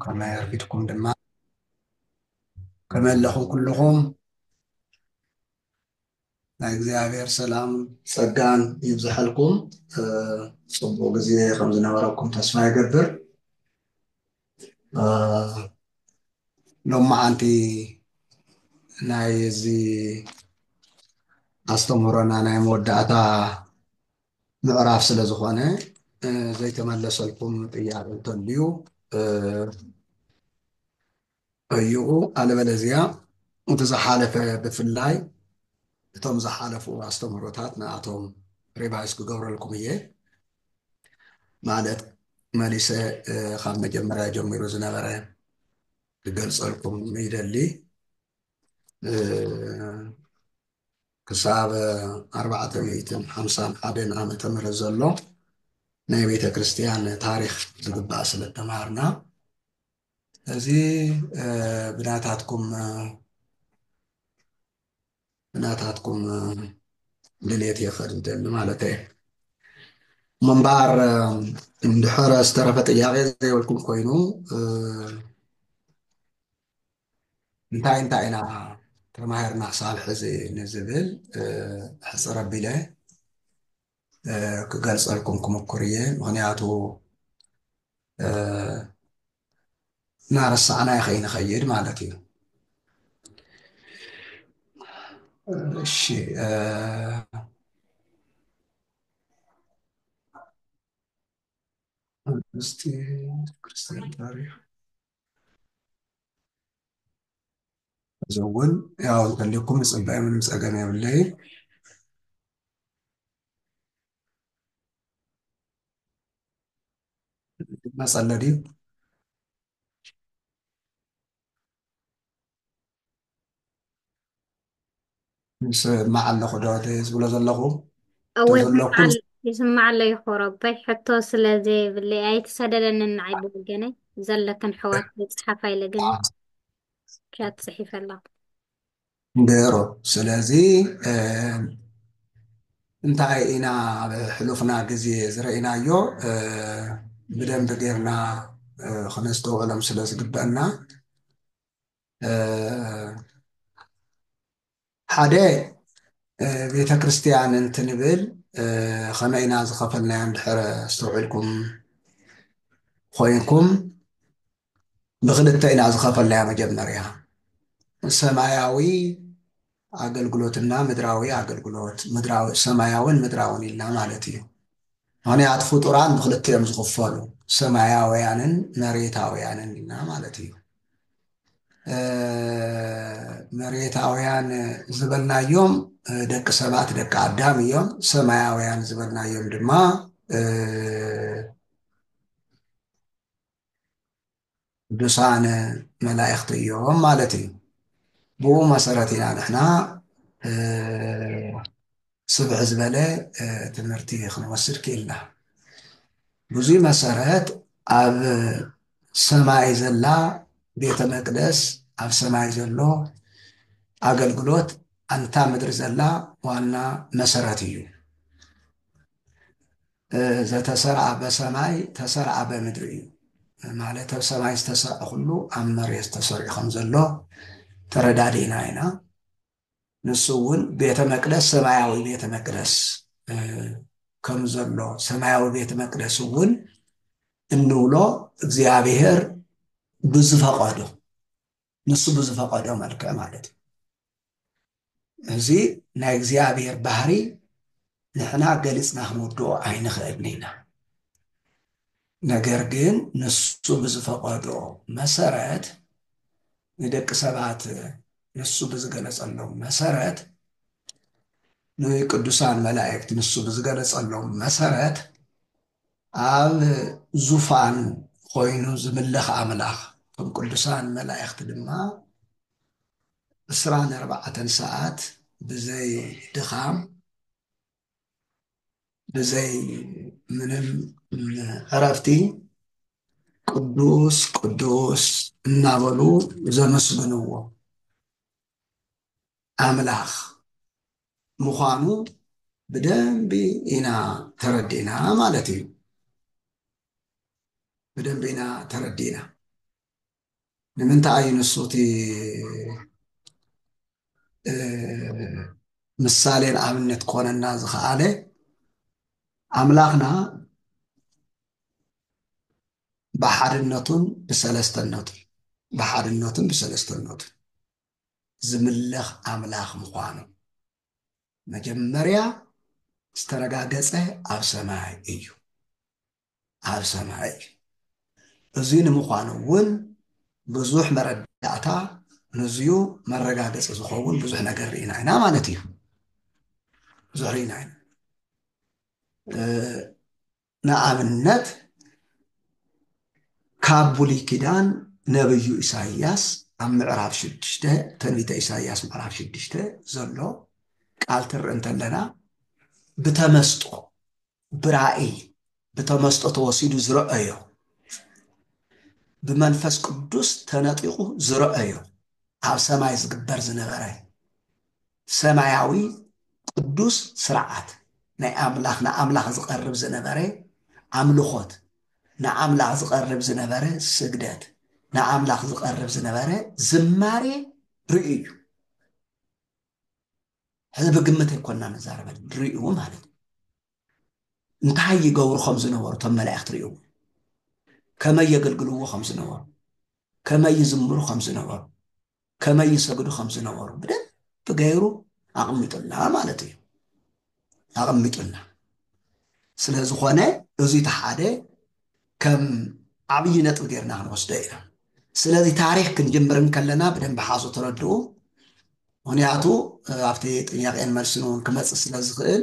ከመይ ኣርኪትኩም ድማ ከመይ ኣለኹም ኩልኹም ናይ እግዚኣብሔር ሰላም ጸጋን ይብዝሐልኩም ጽቡቅ ግዜ ከም ዝነበረኩም ተስፋ ይገብር ሎማዓንቲ ናይ እዚ ኣስተምህሮና ናይ መወዳእታ ምዕራፍ ስለ ዝኾነ ዘይተመለሰልኩም ጥያቄ እንተልዩ ጠይቑ ኣለበለዚያ እቲ ዝሓለፈ ብፍላይ እቶም ዝሓለፉ ኣስተምህሮታት ንኣቶም ሪቫይስ ክገብረልኩም እየ ማለት መሊሰ ካብ መጀመርያ ጀሚሩ ዝነበረ ክገልፀልኩም ይደሊ ክሳብ ኣርባዕተ ሚእትን ሓምሳን ሓደን ዓመተ ምህረት ዘሎ ናይ ቤተ ክርስቲያን ታሪክ ዝግባእ ስለ ተማሃርና እዚ ብናታትኩም ብናታትኩም ድሌት እየ ክኸድ ዝደሊ ማለት እየ እሞ እምበኣር እንድሕረ ዝተረፈ ጥያቄ ዘይብልኩም ኮይኑ እንታይ እንታይ ኢና ተማሂርና ክሳብ ሕዚ ንዝብል ሕፅር ኣቢለ ክገልፀልኩም ክምኩር እየ ምክንያቱ እናረሳዕናዮ ከይንኸይድ ማለት እዩ እሺ እስቲ ክርስቲያን ታሪክ እዚ እውን ያው እንተልኩም ዝፅበ ምንም ፀገም የብለይ መፀለ ድዩ ይስማዕ ኣለኹ ዶ እቲ ዝብሎ ዘለኹ እወ ይስማዕ ይስማዕ ኣሎ ይኾረበይ ሕቶ ስለ ዘይብለይ ኣይትሰደደኒ ንዓይ ብወገነይ ዘለክን ኣሕዋት ከይፅሓፋ ኢለ ግን ቻት ፅሒፈ ኣለኹ ብሩር ስለዚ እንታይ ኢና ኣብ ሕሉፍና ግዜ ዝረኢናዮ ብደንቢ ጌርና ክነስተውዕሎም ስለ ዝግበአና ሓደ ቤተ ክርስቲያን እንትንብል ከመይ ኢና ዝኸፈልናዮ እንድሕር ኣስተውዒልኩም ኮይንኩም ብክልተ ኢና ዝኸፈልናዮ መጀመርያ ሰማያዊ ኣገልግሎትና ምድራዊ ኣገልግሎት፣ ምድራዊ፣ ሰማያውን ምድራውን ኢልና ማለት እዩ። ምኽንያት ፍጡራን ብኽልተ እዮም ዝኽፈሉ፣ ሰማያውያንን መሬታውያንን ኢልና ማለት እዩ። መሬታውያን ዝበልናዮም ደቂ ሰባት ደቂ ኣዳም እዮም። ሰማያውያን ዝበልናዮም ድማ ቅዱሳን መላእኽቲ እዮም ማለት እዩ። ብኡ መሰረት ኢና ንሕና ስብዕ ዝበለ ትምህርቲ ክንወስድ ክኢልና። ብዙይ መሰረት ኣብ ሰማይ ዘላ ቤተ መቅደስ ኣብ ሰማይ ዘሎ ኣገልግሎት ኣንታ ምድሪ ዘላ ዋና መሰረት እዩ። ዘተሰርዐ በሰማይ ተሰርዐ በምድሪ እዩ ማለት ኣብ ሰማይ ዝተሰርዐ ኩሉ ኣብ መሬት ተሰሪዑ ከም ዘሎ ተረዳዲእና ኢና ንሱ እውን ቤተ መቅደስ ሰማያዊ ቤተ መቅደስ ከም ዘሎ ሰማያዊ ቤተ መቅደስ እውን እንብሎ እግዚኣብሔር ብዝፈቐዶ ንሱ ብዝፈቐዶ መልክዕ ማለት እዩ። እዚ ናይ እግዚኣብሔር ባህሪ ንሕና ገሊጽና ክንውድኦ ኣይንኽእልን ኢና። ነገር ግን ንሱ ብዝፈቐዶ መሰረት ንደቂ ሰባት ንሱ ብዝገለጸሎም መሰረት ንቅዱሳን መላእክት ንሱ ብዝገለጸሎም መሰረት ኣብ ዙፋን ኾይኑ ዝምለኽ ኣምላኽ እቶም ቅዱሳን መላእኽቲ ድማ ዕስራን ኣርባዕተን ሰዓት ብዘይ ድኻም ብዘይ ምንም ዕረፍቲ ቅዱስ ቅዱስ እናበሉ ዘመስግንዎ ኣምላኽ ምዃኑ ብደንቢ ኢና ተረዲእና ማለት እዩ። ብደንቢ ኢና ተረዲእና። ንምንታይ እዩ ንሱ እቲ ምሳሌን ኣብነት ኮነና ዝኸኣለ ኣምላኽና ብሓድነቱን ብሰለስተነቱ ብሓድነቱን ብሰለስተነቱ ዝምለኽ ኣምላኽ ምዃኑ መጀመርያ ዝተረጋገጸ ኣብ ሰማይ እዩ ኣብ ሰማይ እዩ እዙይ ንምዃኑ እውን ብዙሕ መረዳእታ ንዝዩ መረጋገፂ ዝኸውን ብዙሕ ነገር ርኢና ኢና ማለት እዩ ብዙሕ ርኢና ኢና ንኣብነት ካብ ብሉይ ኪዳን ነብዩ ኢሳይያስ ኣብ ምዕራፍ ሽዱሽተ ትንቢተ ኢሳይያስ ምዕራፍ ሽዱሽተ ዘሎ ቃል ትርኢ እንተለና ብተመስጦ ብራእይ ብተመስጦ ተወሲዱ ዝረአዮ ብመንፈስ ቅዱስ ተነጢቑ ዝረአዮ ኣብ ሰማይ ዝግበር ዝነበረ ሰማያዊ ቅዱስ ስርዓት ናይ ኣምላኽ ንኣምላኽ ዝቐርብ ዝነበረ ኣምልኾት፣ ንኣምላኽ ዝቐርብ ዝነበረ ስግደት፣ ንኣምላኽ ዝቐርብ ዝነበረ ዝማሬ ርእዩ እዩ። ሕዚ ብግምት ኣይኮንና ንዛረበ ርእዩ ማለት እዩ። እንታይ ይገብሩ ከም ዝነበሩ እቶም መላእኽቲ ርእይዎ፣ ከመይ የገልግልዎ ከም ዝነበሩ፣ ከመይ ይዝምሩ ከም ዝነበሩ፣ ከመይ ይሰግዱ ከም ዝነበሩ ብደንብ ገይሩ ኣቕሚጡልና ማለት እዩ ኣቐሚጡልና ስለ ዝኾነ እዚ እቲ ሓደ ከም ዓብዪ ነጥቢ ጌርና ክንወስዶ ኢና ስለዚ ታሪክ ክንጅምር እንከለና ብደንብ ሓዙ ተረድኡ ምክንያቱ ኣብቲ ጥያቄን መልስን እውን ክመፅእ ስለ ዝኽእል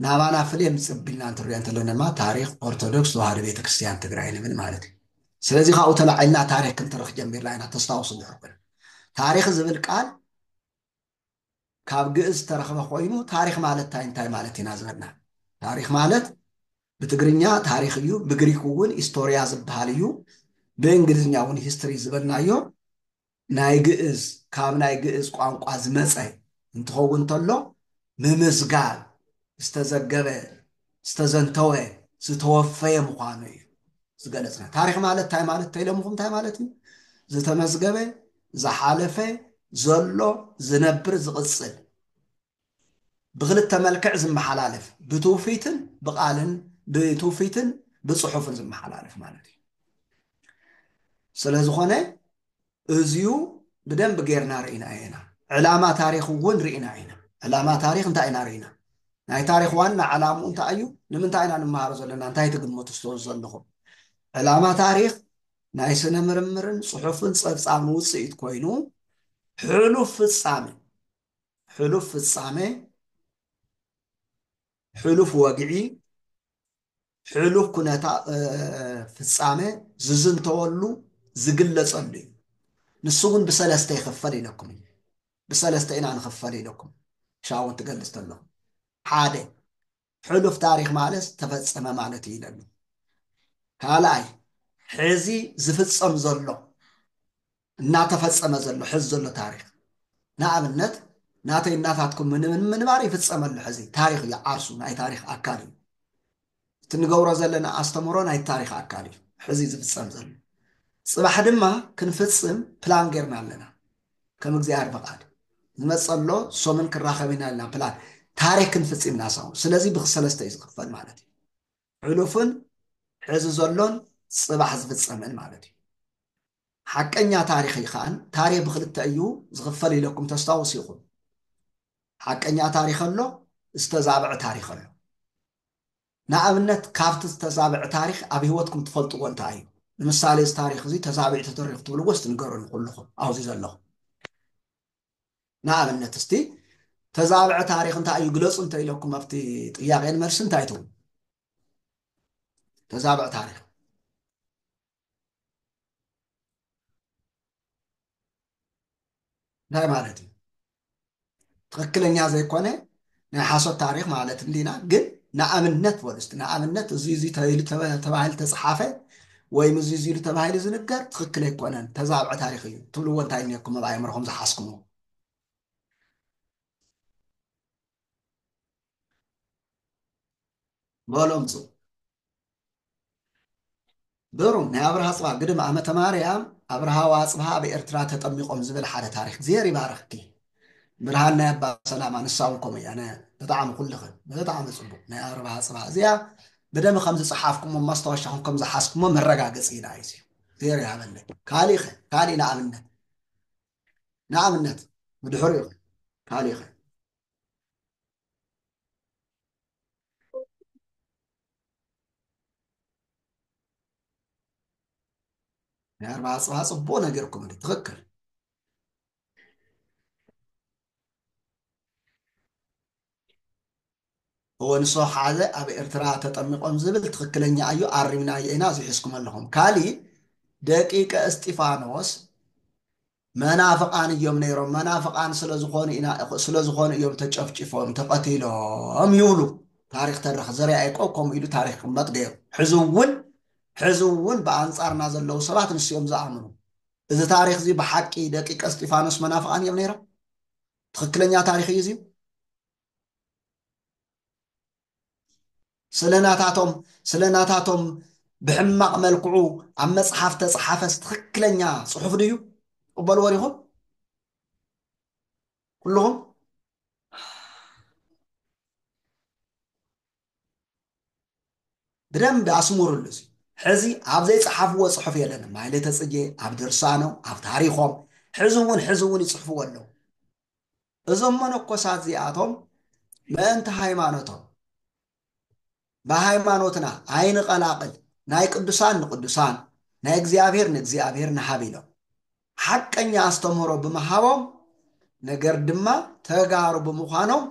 ናባና ፍልም ጽብ ኢልና እንትሪኦ እንተሎና ድማ ታሪኽ ኦርቶዶክስ ተዋህዶ ቤተ ክርስትያን ትግራይ ንብል ማለት እዩ። ስለዚ ካብኡ ተላዒልና ታሪኽ ክንትርኽ ጀሚርና ኢና ተስታውሱ እንድሕር ኮይንኩም። ታሪኽ ዝብል ቃል ካብ ግእዝ ዝተረኽበ ኮይኑ ታሪኽ ማለት እንታይ እንታይ ማለት ኢና ዝበልና። ታሪኽ ማለት ብትግርኛ ታሪኽ እዩ፣ ብግሪክ እውን ኢስቶርያ ዝበሃል እዩ፣ ብእንግሊዝኛ እውን ሂስትሪ ዝበልናዮ ናይ ግእዝ ካብ ናይ ግእዝ ቋንቋ ዝመጸ እንትኸውን እንተሎ ምምዝጋብ ዝተዘገበ፣ ዝተዘንተወ፣ ዝተወፈየ ምዃኑ እዩ ዝገለጽና። ታሪኽ ማለት እንታይ ማለት ተይለምኹም እንታይ ማለት እዩ? ዝተመዝገበ፣ ዝሓለፈ፣ ዘሎ፣ ዝነብር፣ ዝቕጽል። ብኽልተ መልክዕ ዝመሓላለፍ ብትውፊትን ብቃልን ብትውፊትን ብፅሑፍን ዝመሓላለፍ ማለት እዩ ስለዝኾነ እዚዩ ብደንብ ጌርና ርኢና ኢና ዕላማ ታሪክ እውን ርኢና ኢና ዕላማ ታሪክ እንታይ ኢና ርኢና ናይ ታሪክ ዋና ዕላምኡ እንታይ እዩ ንምንታይ ኢና ንመሃሮ ዘለና እንታይ ትግምቱ ስትወ ዘለኹም ዕላማ ታሪክ ናይ ስነ ምርምርን ፅሑፍን ፀብፃብን ውፅኢት ኮይኑ ሕሉፍ ፍፃመ ሕሉፍ ፍጻመ፣ ሕሉፍ ወግዒ፣ ሕሉፍ ኩነታ ፍጻመ ዝዝንተወሉ ዝግለጸሉ እዩ። ንሱ እውን ብሰለስተ ይኽፈል ኢለኩም እዩ። ብሰለስተ ኢና ንኽፈል ኢለኩም ሻውን ትገልጽ ተሎ ሓደ ሕሉፍ ታሪኽ ማለት ተፈጸመ ማለት እዩ ኢለሉ። ካልኣይ ሕዚ ዝፍጸም ዘሎ እናተፈጸመ ዘሎ ሕዚ ዘሎ ታሪኽ ንኣብነት ናተይ እናታትኩም ምንባር ይፍጸም ኣሎ ሕዚ ታሪኽ እዩ ዓርሱ ናይ ታሪኽ ኣካል እዩ እቲ ንገብሮ ዘለና ኣስተምህሮ ናይ ታሪኽ ኣካል እዩ ሕዚ ዝፍጸም ዘሎ ጽባሕ ድማ ክንፍጽም ፕላን ጌርና ኣለና ከም እግዚኣብሔር ፈቃድ ዝመጸሎ ሶምን ክራኸብ ኢና ኢልና ፕላን ታሪክን ፍጺምና ሳውን ስለዚ ብክሰለስተ እዩ ዝኽፈል ማለት እዩ ሕሉፍን ሕዚ ዘሎን ጽባሕ ዝፍጸምን ማለት እዩ ሓቀኛ ታሪክ ይኸኣን ታሪክ ብክልተ እዩ ዝኽፈል ኢለኩም ተስታውስ ይኹም ሓቀኛ ታሪክ ኣሎ ዝተዛብዐ ታሪክ ኣሎ ንኣብነት ካብቲ ዝተዛብዐ ታሪኽ ኣብ ህይወትኩም ትፈልጥዎ እንታይ እዩ? ንምሳሌ እዚ ታሪኽ እዚ ተዛቢዑ ተተሪኹ ትብልዎ እስቲ ንገሩኒ ኩሉኹም ኣብዚ ዘለኹም። ንኣብነት እስቲ ተዛብዐ ታሪኽ እንታይ እዩ ግለፁ እንተ ኢለኩም ኣብቲ ጥያቄን መልሲ እንታይ ትብሉ? ተዛብዐ ታሪኽ እንታይ ማለት እዩ? ትኽክለኛ ዘይኮነ ናይ ሓሶት ታሪኽ ማለት እንዲና ግን ንኣብነት በሉ እስቲ ንኣብነት እዚ እዚ ተባሂሉ ተባሂሉ ተፀሓፈ ወይም እዚ እዚ ኢሉ ተባሂሉ ዝንገር ትኽክል ኣይኮነን ተዛብዐ ታሪኽ እዩ ትብልዎ እንታይ እኒኩም ኣብ ኣእምሮኹም ዝሓስኩምዎ በሉ ኣምፁ በሩን ናይ ኣብርሃ ኣጽብሃ ግድም ኣመተ ማርያም ኣብርሃ ወኣጽብሃ ኣብ ኤርትራ ተጠሚቆም ዝብል ሓደ ታሪክ እግዚሄር ይባርክኪ ብርሃን ናይ ኣባ ሰላማ ንሳ ውን ከምኡ እያ ነ ብጣዕሚ ኩልኽን ብጣዕሚ ጽቡቅ ናይ ኣብርሃ ኣጽብሃ እዚኣ ብደም ከም ዝጸሓፍኩሞ ማስታወሻኹም ከም ዝሓዝኩሞ መረጋገጺ ኢና እዩ እግዚሄር ይሃበለይ ካሊእ ከ ካሊእ ንኣብነት ንኣብነት ብድሕሪኡ ከ ካሊእ ከ ናይ ኣርባዓ ፅባሕ ፅቡቅ ነገርኩም እንዲ ትክክል እወ ንሶ ሓደ ኣብ ኤርትራ ተጠሚቆም ዝብል ትክክለኛ እዩ ኣሪምናዮ ኢና እዚ ሒዝኩም ኣለኹም ካሊእ ደቂቀ እስጢፋኖስ መናፍቃን እዮም ነይሮም መናፍቃን ስለዝኾኑ ኢና ስለዝኾኑ እዮም ተጨፍጪፎም ተቀቲሎም ይብሉ ታሪኽ ተረኽ ዘርኣ ያዕቆብ ከምኡ ኢሉ ታሪኽ ክቅመጥ ገይሩ ሕዚ እውን ሕዚ እውን ብኣንጻርና ዘለዉ ሰባት ንሱ እዮም ዝኣምኑ እዚ ታሪኽ እዚ ብሓቂ ደቂቀ እስጢፋኖስ መናፍቃን እዮም ነይሮም ትኽክለኛ ታሪኽ እዩ እዚዩ ስለ ናታቶም ስለ ናታቶም ብሕማቕ መልክዑ ኣብ መጽሓፍ ተጽሓፈስ ትኽክለኛ ጽሑፍ ድዩ ቅበልዎ ዲኹም ኩልኹም ብደንብ ኣስሙርሉ እዚ ሕዚ ኣብ ዘይፀሓፍዎ ፅሑፍ የለንም ማይሌተ ፅጌ ኣብ ድርሳኖም ኣብ ታሪኾም ሕዚ እውን ሕዚ እውን ይፅሕፍዎ ኣለዉ እዞም መነኮሳት እዚኣቶም ምእንቲ ሃይማኖቶም ብሃይማኖትና ኣይንቐላቕል ናይ ቅዱሳን ንቅዱሳን ናይ እግዚኣብሔር ንእግዚኣብሔር ንሃብ ኢሎም ሓቀኛ ኣስተምህሮ ብምሃቦም ነገር ድማ ተጋሩ ብምዃኖም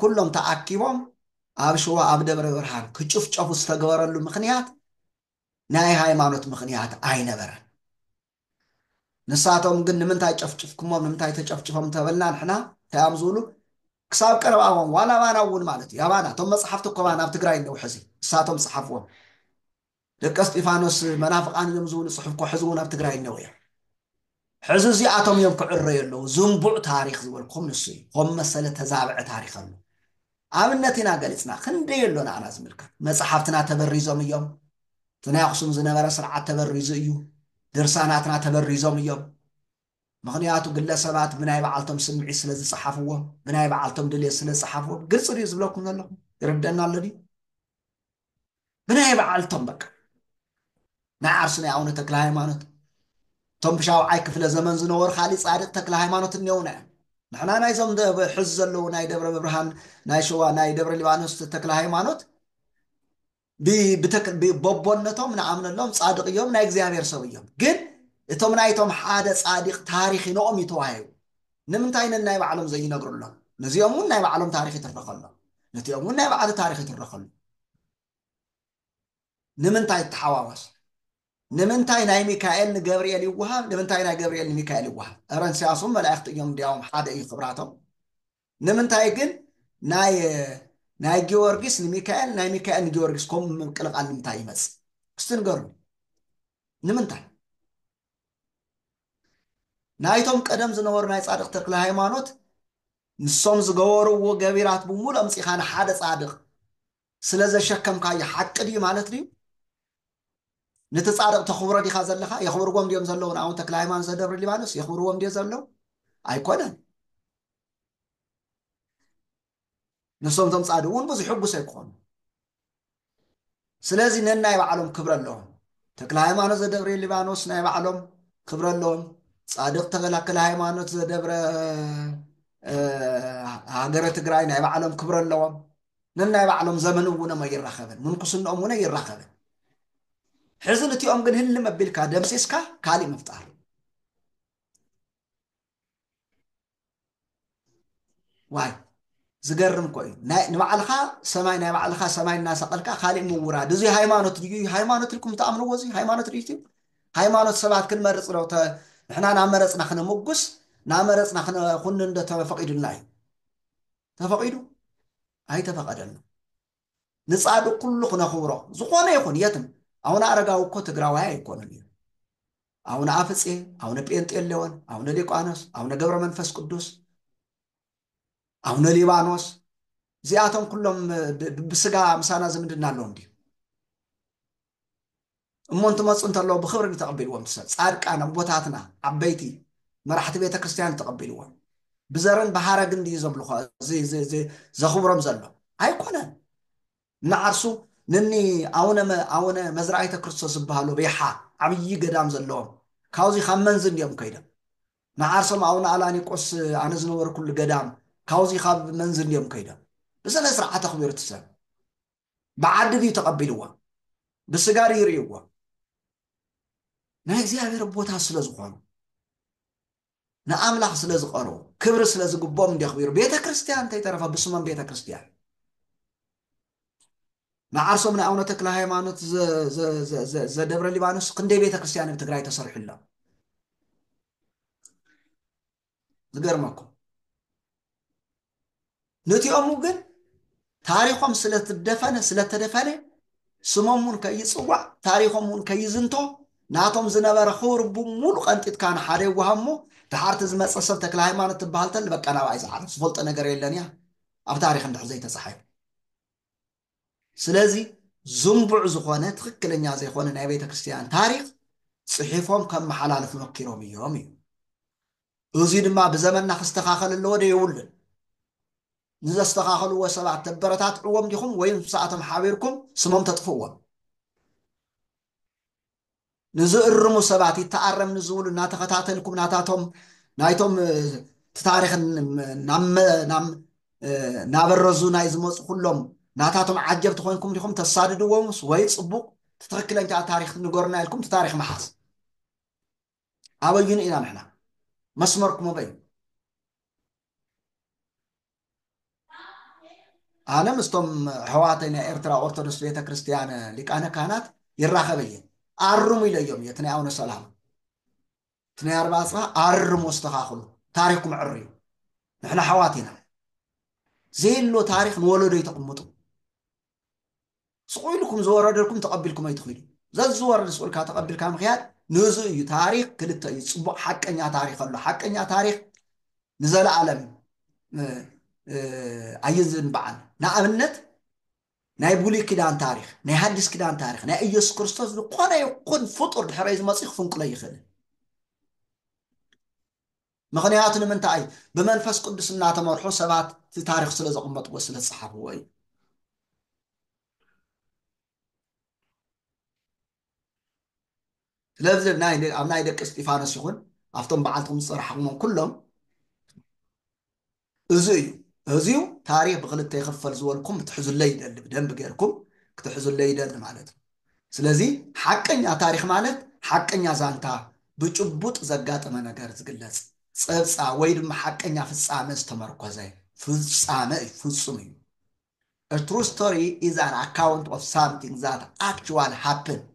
ኩሎም ተኣኪቦም ኣብ ሽዋ ኣብ ደብረ ብርሃን ክጭፍጨፉ ዝተገበረሉ ምኽንያት ናይ ሃይማኖት ምኽንያት ኣይነበረን። ንሳቶም ግን ንምንታይ ጨፍጭፍኩሞም ንምንታይ ተጨፍጭፎም እንተበልና ንሕና እንታይ እዮም ዝብሉ ክሳብ ቀረባዎም ዋላ ኣባና እውን ማለት እዩ ኣባና እቶም መፅሓፍቲ እኮ ኣብ ትግራይ እነው ሕዚ ንሳቶም ዝፀሓፍዎም ደቀ እስጢፋኖስ መናፍቃን እዮም ዝብሉ ፅሑፍ እኮ ሕዚ እውን ኣብ ትግራይ እነው እዮም ሕዚ እዚኣቶም እዮም ክዕረዩ ኣለዉ ዝንቡዕ ታሪክ ዝበልኩም ንሱ እዩ ኮም መሰለ ተዛብዐ ታሪክ ኣሎ ኣብነት ኢና ገሊጽና ክንደይ ኣሎ ንዓና ዝምልከት መጻሓፍትና ተበሪዞም እዮም እቲ ናይ ኣክሱም ዝነበረ ስርዓት ተበሪዙ እዩ ድርሳናትና ተበሪዞም እዮም ምክንያቱ ግለሰባት ብናይ በዓልቶም ስምዒት ስለ ዝጸሓፍዎም ብናይ በዓልቶም ድልየት ስለ ዝጸሓፍዎም ግልጺ ድዩ ዝብለኩም ዘለኹ ይርደና ኣሎ ድዩ ብናይ ባዓልቶም በቃ ናይ ዓርሱ ናይ ኣውነ ተክለሃይማኖት እቶም ብሻውዓይ ክፍለ ዘመን ዝነበሩ ካሊእ ጻድቅ ተክለሃይማኖት እኔውና እዮም ንሕና ናይዞም ሕዚ ዘለዉ ናይ ደብረ ብርሃን ናይ ሸዋ ናይ ደብረ ሊባኖስ ተክለሃይማኖት በቦነቶም ንኣምነሎም ጻድቅ እዮም ናይ እግዚኣብሔር ሰብ እዮም ግን እቶም ናይቶም ሓደ ጻዲቅ ታሪክ ንኦም እዩ ተዋሂቡ ንምንታይ ነናይ ባዕሎም ዘይነግርሎም ነዚኦም እውን ናይ ባዕሎም ታሪክ ይትረከሎም ነቲኦም እውን ናይ ባዕሉ ታሪክ ይትረከሉ ንምንታይ ይተሓዋወስ? ንምንታይ ናይ ሚካኤል ንገብርኤል ይወሃብ ንምንታይ ናይ ገብርኤል ንሚካኤል ይወሃብ? እረንስያስም መላእክቲ እዮም እንዲያውም ሓደ እዩ ክብራቶም። ንምንታይ ግን ናይ ናይ ጊዮርጊስ ንሚካኤል ናይ ሚካኤል ንጊዮርጊስ ከምኡ ምቅልቓል ንምንታይ ይመጽእ? እስቲ ንገሩኒ ንምንታይ? ናይቶም ቀደም ዝነበሩ ናይ ጻድቅ ተክለሃይማኖት ንሶም ዝገበርዎ ገቢራት ብሙሉ ኣምጺኻ ንሓደ ጻድቅ ስለ ዘሸከምካዮ ሓቂ ድዩ ማለት ድዩ ንቲ ጻድቅ ተኽብሮ ዲኻ ዘለኻ የኽብርዎም ድዮም ዘለዉ ንኣቡነ ተክለሃይማኖት ዘደብረ ሊባኖስ የኽብርዎም ድዮ ዘለዉ ኣይኮነን ንሶም እቶም ጻድቅ እውን ብዙሕ ሕጉስ ኣይኮኑ ስለዚ ነናይ ባዕሎም ክብረ ኣለዎም ተክለ ሃይማኖት ዘደብረ ሊባኖስ ናይ ባዕሎም ክብረ ኣለዎም ጻድቅ ተበላከለ ሃይማኖት ዘደብረ ሃገረ ትግራይ ናይ ባዕሎም ክብረ ኣለዎም ነናይ ባዕሎም ዘመን እውኖም ኣይራኸብን ምንኩስንኦም እውን ኣይራኸብን ሕዚ ንቲኦም ግን ህሊ መቢልካ ደምሲስካ ካሊእ ምፍጣር ዋይ ዝገርም እኮ እዩ ናይ- ንባዕልኻ ሰማይ ናይ ባዕልኻ ሰማይ እናሰቐልካ ካሊእ ምውራድ እዚ ሃይማኖት ድዩ ሃይማኖት ኢልኩም ትኣምንዎ እዚ ሃይማኖት ድዩ ትዩ ሃይማኖት ሰባት ክንመርፅ ዶ ተ- ንሕና ናመረፅና ክነመጉስ ናመረፅና ክነኹንን ዶ ተፈቂዱልና እዩ ተፈቂዱ ኣይተፈቐደን ንጻድቅ ኩሉ ክነኽብሮ ዝኾነ ይኹን የትም ኣውነ ኣረጋዊ እኮ ትግራዋይ ኣይኮኑን እዩ ኣውነ ኣፍጼ ኣውነ ጴንጤሌዎን ኣውነ ሊቋኖስ ኣውነ ገብረ መንፈስ ቅዱስ ኣውነ ሊባኖስ እዚኣቶም ኩሎም ብስጋ ምሳና ዝምድና ኣለዎም ድዩ እሞ እንትመፁ እንተለዉ ብክብሪ ዶ ተቀቢልዎም እቲ ሰብ ፃድቃን ኣቦታትና ዓበይቲ መራሕቲ ቤተክርስትያን ተቀቢልዎም ብዘርን ብሃረግን ድዩ ዘምልኾ ዘኽብሮም ዘሎ ኣይኮነን እናዓርሱ ንኒ ኣውነ ኣውነ መዝራይተ ክርስቶስ ዝበሃሉ ሪሓ ዓብዪ ገዳም ዘለዎም ካብዚ ካብ መንዝ እንዲኦም ከይዶም ንዓርሶም ኣውነ ኣላኒቆስ ኣነ ዝነበርኩሉ ገዳም ካብዚ ካብ መንዝ እንዲኦም ከይዶም ብስነ ስርዓት ኣኽቢሩ እቲ ሰብ ብዓዲ ድዩ ተቐቢልዎም ብስጋ ድዩ ርእይዎም ናይ እግዚኣብሔር ቦታ ስለ ዝኾኑ ንኣምላኽ ስለ ዝቐርቡ ክብሪ ስለ ዝግቦም እንዲየኽቢሩ ቤተ ክርስቲያን እንተይተረፈ ብስሞም ቤተ ክርስቲያን ንዓርሶም ንኣቡነ ተክለ ሃይማኖት ዘደብረ ሊባኖስ ክንደይ ቤተ ክርስቲያን ኣብ ትግራይ ተሰርሑ ኣሎ ዝገርመኩም ነቲኦሙ ግን ታሪኾም ስለትደፈነ ስለተደፈነ ስሞም እውን ከይፅዋዕ ታሪኾም እውን ከይዝንቶ ናቶም ዝነበረ ክብሪ ብሙሉ ቀንጢጥካ ንሓደ ይዋሃብ እሞ ድሓርቲ ዝመፀ ሰብ ተክለ ሃይማኖት ትበሃል ተል በቃ ናብኣይ ዝዓረፍ ዝፈልጦ ነገር የለን እያ ኣብ ታሪክ እንድሕር ዘይተፃሓይ ስለዚ ዝንቡዕ ዝኾነ ትኽክለኛ ዘይኮነ ናይ ቤተ ክርስቲያን ታሪኽ ጽሒፎም ከመሓላልፉ መኪሮም እዮም እዩ። እዙይ ድማ ብዘመንና ክስተኻኸል ኣለዎ ዶ የብሉን? ንዘስተኻኸልዎ ሰባት ተበረታትዕዎም ዲኹም ወይም ምስኣቶም ሓቢርኩም ስሞም ተጥፍእዎም? ንዝእርሙ ሰባት ይተኣረም ንዝብሉ እናተኸታተልኩም ናታቶም ናይቶም እቲ ታሪክ ናበረዙ ናይ ዝመፁ ኩሎም ናታቶም ዓጀብቲ ኮይንኩም ዲኹም ተሳድድዎምስ ወይ ፅቡቕ ትክክለኛ ታሪክ ንገሩና ኢልኩም እቲ ታሪክ ምሓዝ ኣበዩን ኢና ንሕና መስመርኩም ኣበዩ ኣነ ምስቶም ኣሕዋተይ ናይ ኤርትራ ኦርቶዶክስ ቤተክርስትያን ሊቃነ ካህናት ይራኸበ እየ ኣርሙ ኢለዮም እየ እቲ ናይ ኣቡነ ሰላማ እቲ ናይ ኣርባ ኣፅባ ኣርሙ ኣስተኻኽሉ ታሪኽኩም ዕር እዩ ንሕና ኣሕዋት ኢና ዘየሎ ታሪኽ ንወለዶ ይተቕምጡ ስቑ ኢሉኩም ዝወረደልኩም ተቐቢልኩም ኣይትኺዱ ዘዝወርድ ስቑ ኢልካ ተቐቢልካ ምኽያድ ንእዙ እዩ ታሪኽ ክልተ እዩ ፅቡቕ ሓቀኛ ታሪኽ ኣሎ ሓቀኛ ታሪኽ ንዘለኣለም ኣይዝንበዓል ንኣብነት ናይ ብሉይ ኪዳን ታሪኽ ናይ ሃዲስ ኪዳን ታሪኽ ናይ ኢየሱስ ክርስቶስ ዝኾነ ይኹን ፍጡር ድሕረይ ዝመፅኡ ክፍንቅሎ ይኽእል ምኽንያቱ ንምንታይ ብመንፈስ ቅዱስ እናተመርሑ ሰባት እቲ ታሪኽ ስለ ዘቕመጥዎ ስለ ዝፀሓፍዎ እዩ ስለዚ ኣብ ናይ ደቂ እስጢፋኖስ ይኹን ኣብቶም በዓልቶም ዝፀራሕዎም ኩሎም እዙይ እዩ እዙዩ ታሪኽ ብክልተ ይኽፈል ዝበልኩም ክትሕዙለይ ይደሊ ብደንቢ ገርኩም ክትሕዙለይ ይደሊ ማለት እዩ ስለዚ ሓቀኛ ታሪኽ ማለት ሓቀኛ ዛንታ ብጭቡጥ ዘጋጠመ ነገር ዝግለፅ ፀብፃ ወይ ድማ ሓቀኛ ፍፃመ ዝተመርኮዘ ፍፃመ እዩ ፍፁም እዩ A true story is an account of something that actually happened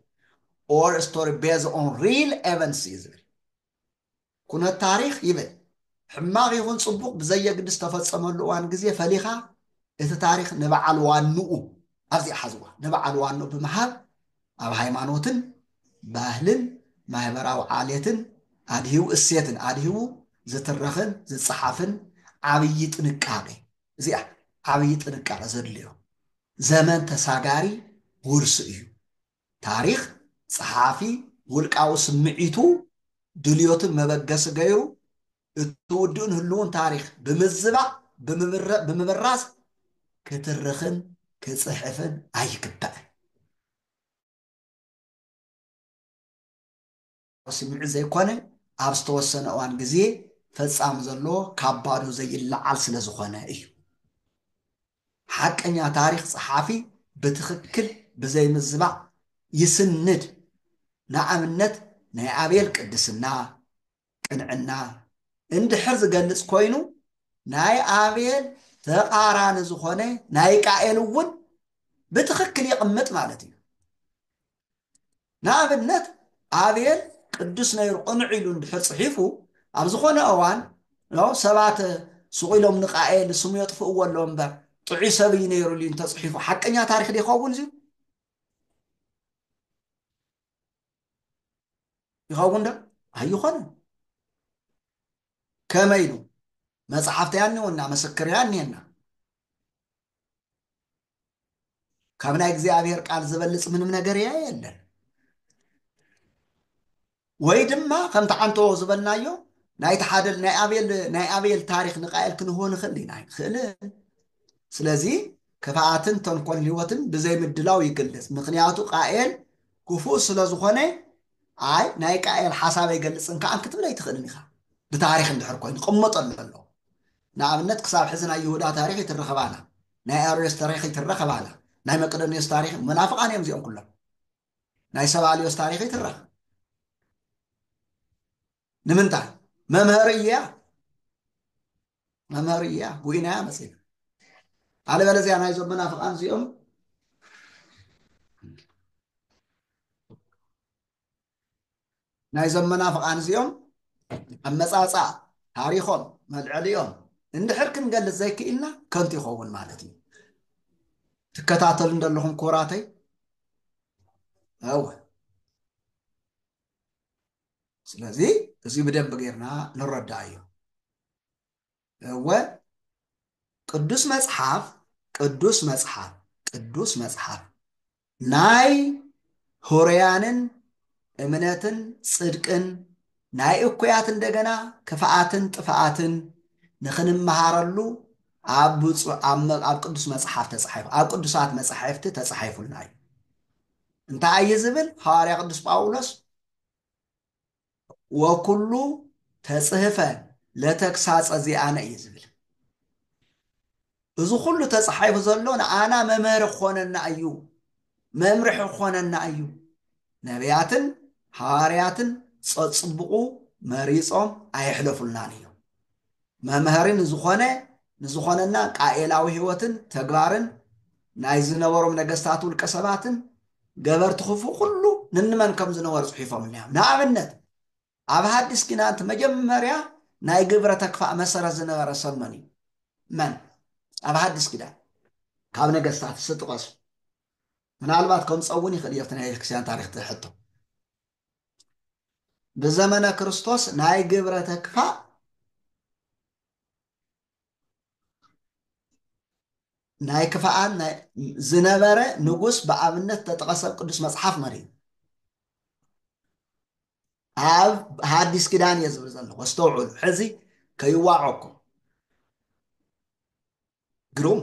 or a story based on real events እዩ ዝብል ኩነት ታሪኽ ይብል ሕማቕ ይኹን ጽቡቕ ብዘየግድስ ዝተፈጸመሉ እዋን ግዜ ፈሊኻ እቲ ታሪኽ ንበዓል ዋንኡ ኣብዚኣ ሓዝዋ ንበዓል ዋንኡ ብምሃብ ኣብ ሃይማኖትን ባህልን ማህበራዊ ዓሌትን ኣድሂቡ እሴትን ኣድሂቡ ዝትረኽን ዝጸሓፍን ዓብዪ ጥንቃቄ እዚኣ ዓብዪ ጥንቃቄ ዘድልዮ ዘመን ተሳጋሪ ውርሲ እዩ። ታሪኽ ጸሓፊ ውልቃዊ ስምዒቱ፣ ድልዮትን መበገሲ ገይሩ እቲ ውዱእን ህሉውን ታሪኽ ብምዝባዕ ብምብራዝ ክትርኽን ክጽሕፍን ኣይግባእን። ስምዒት ዘይኮነ ኣብ ዝተወሰነ እዋን ግዜ ፈጻሚ ዘለዎ ካብ ባዶ ዘይለዓል ስለ ዝኾነ እዩ። ሓቀኛ ታሪኽ ጸሓፊ ብትኽክል ብዘይ ምዝባዕ ይስንድ ንኣብነት ናይ ኣቤል ቅድስና፣ ቅንዕና፣ እንድሕር ዝገልጽ ኮይኑ ናይ ኣቤል ተቃራኒ ዝኾነ ናይ ቃኤል እውን ብትኽክል የቅምጥ ማለት እዩ። ንኣብነት ኣቤል ቅዱስ ነይሩ ቅኑዕ ኢሉ እንድሕር ጽሒፉ ኣብ ዝኾነ እዋን ሰባት ሱቕ ኢሎም ንቃኤል ስሙ የጥፍእዎ ኣለዎ እምበር ጥዑይ ሰብ እዩ ነይሩ ኢሉ እንተጽሒፉ ሓቀኛ ታሪክ ይኸውን እዩ ይኸውን ዶ ኣይኾነን ከመይ ኢሉ መጽሓፍቲ ያኒውና መስክር ያኒየና ካብ ናይ እግዚኣብሔር ቃል ዝበልጽ ምንም ነገር እያ የለን ወይ ድማ ከምቲ ዓንተዎ ዝበልናዮ ናይቲ ሓደ ናይ ኣቤል ናይ ኣቤል ታሪክ ንቃኤል ክንህቦ ንኽእል ኢና ኣይንኽእልን ስለዚ ክፍኣትን ተንኮል ህይወትን ብዘይ ምድላው ይግልጽ ምክንያቱ ቃኤል ክፉእ ስለ ዝኾነ ኣይ ናይ ቃኤል ሓሳብ ኣይገልጽን ከዓ ክትብል ኣይትኽእልን ኢኻ ብታሪክ እንድሕር ኮይኑ ቅመጠሉ ኣሎ ንኣብነት ክሳብ ሕዚ ናይ ይሁዳ ታሪክ ይትረኸባና ናይ ኣርዮስ ተሪኽ ይትረኽ ኣባህላ ናይ መቅደንዮስ ታሪኽ መናፍቃን እዮም እዚኦም ኩሎም ናይ ሰብ ኣልዮስ ታሪኽ ይትረኽ ንምንታይ መምህር እያ መምህር እያ ጉኢናያ መፅና ኣለበለዚያ ናይዞም መናፍቃን እዚኦም ናይዞም መናፍቓን እዚኦም ኣመጻጽኣ ታሪኾም መልዐሊኦም እንድሕር ክንገልጽ ዘይክኢልና ከንቱ ይኸውን ማለት እዩ። ትከታተሉ እንደለኹም ኮራተይ እወ ስለዚ እዚ ብደንብ ጌርና ንረዳእ እዩ። እወ፣ ቅዱስ መጽሓፍ፣ ቅዱስ መጽሓፍ፣ ቅዱስ መጽሓፍ፣ ናይ ኅሩያንን እምነትን ጽድቅን፣ ናይ እኩያት እንደገና ክፍኣትን ጥፍኣትን ንኽንመሃረሉ ኣብ ብፁዕ ኣብ ኣብ ቅዱስ መጽሓፍ ተጻሒፉ ኣብ ቅዱሳት መጻሕፍቲ ተጻሒፉልና እዩ። እንታይ እዩ ዝብል? ሐዋርያ ቅዱስ ጳውሎስ ወኩሉ ተጽህፈ ለተግሳጸ ዚኣነ እዩ ዝብል እዚ ኩሉ ተጻሒፉ ዘሎ ንኣና መምህር ክኾነና እዩ መምርሒ ክኾነና እዩ ነቢያትን ሃዋርያትን ጸጽብቑ መሪጾም ኣየሕለፉልናን እዮም መምሀሪ ንዝኾነ ንዝኾነና ቃኤላዊ ሕይወትን ተግባርን ናይ ዝነበሮም ነገስታት ውልቀ ሰባትን ገበርቲ ክፉእ ኩሉ ንንመን ከም ዝነበሩ ጽሒፎምልና እዮም። ንኣብነት ኣብ ሀዲስ ኪዳን እቲ መጀመርያ ናይ ግብረ ተክፋእ መሰረት ዝነበረ ሰብ መን እዩ? መን ኣብ ሀዲስ ኪዳን ካብ ነገስታት እስቲ ጥቀሱ። ምናልባት ከምጸእ እውን ይኽእል እዩ እቲ ናይ ቤተክርስቲያን ታሪኽ ትሕቶ። ብዘመነ ክርስቶስ ናይ ግብረ ተክፋእ ናይ ክፍኣን ዝነበረ ንጉስ ብኣብነት ተጠቐሰ ኣብ ቅዱስ መጽሓፍ መሪዩ ኣብ ሓዲስ ኪዳን እየ ዝብል ዘለኹ ኣስተውዕሉ ሕዚ ከይዋዖኩም ግሩም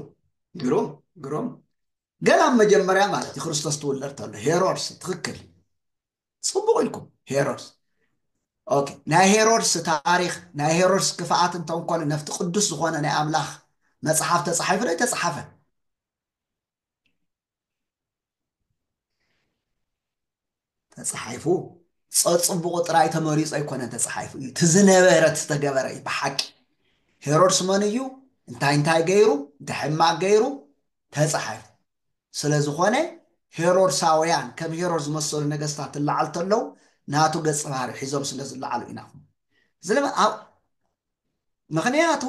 ግሩም ግሩም ገና ኣብ መጀመርያ ማለት እዩ ክርስቶስ ትውለድ ተሎ ሄሮድስ ትክክል ፅቡቅ ኢልኩም ሄሮድስ ኦኬ ናይ ሄሮድስ ታሪክ ናይ ሄሮድስ ክፍኣት እንተንኮነ ነፍቲ ቅዱስ ዝኮነ ናይ ኣምላክ መፅሓፍ ተፃሒፉ ዶ ተፃሓፈ ተፃሓይፉ ፀፅቡቑ ጥራይ ተመሪፁ ኣይኮነን ተፃሓይፉ እዩ እቲ ዝነበረ ዝተገበረ እዩ ብሓቂ ሄሮድስ መን እዩ እንታይ እንታይ ገይሩ እንታይ ሕማቅ ገይሩ ተፃሓይፉ ስለዝኾነ ሄሮድሳውያን ከም ሄሮድ ዝመሰሉ ነገስታት ትለዓል ተለው ናቱ ገፅ ባህሪ ሒዞም ስለ ዝለዓሉ ኢና ምክንያቱ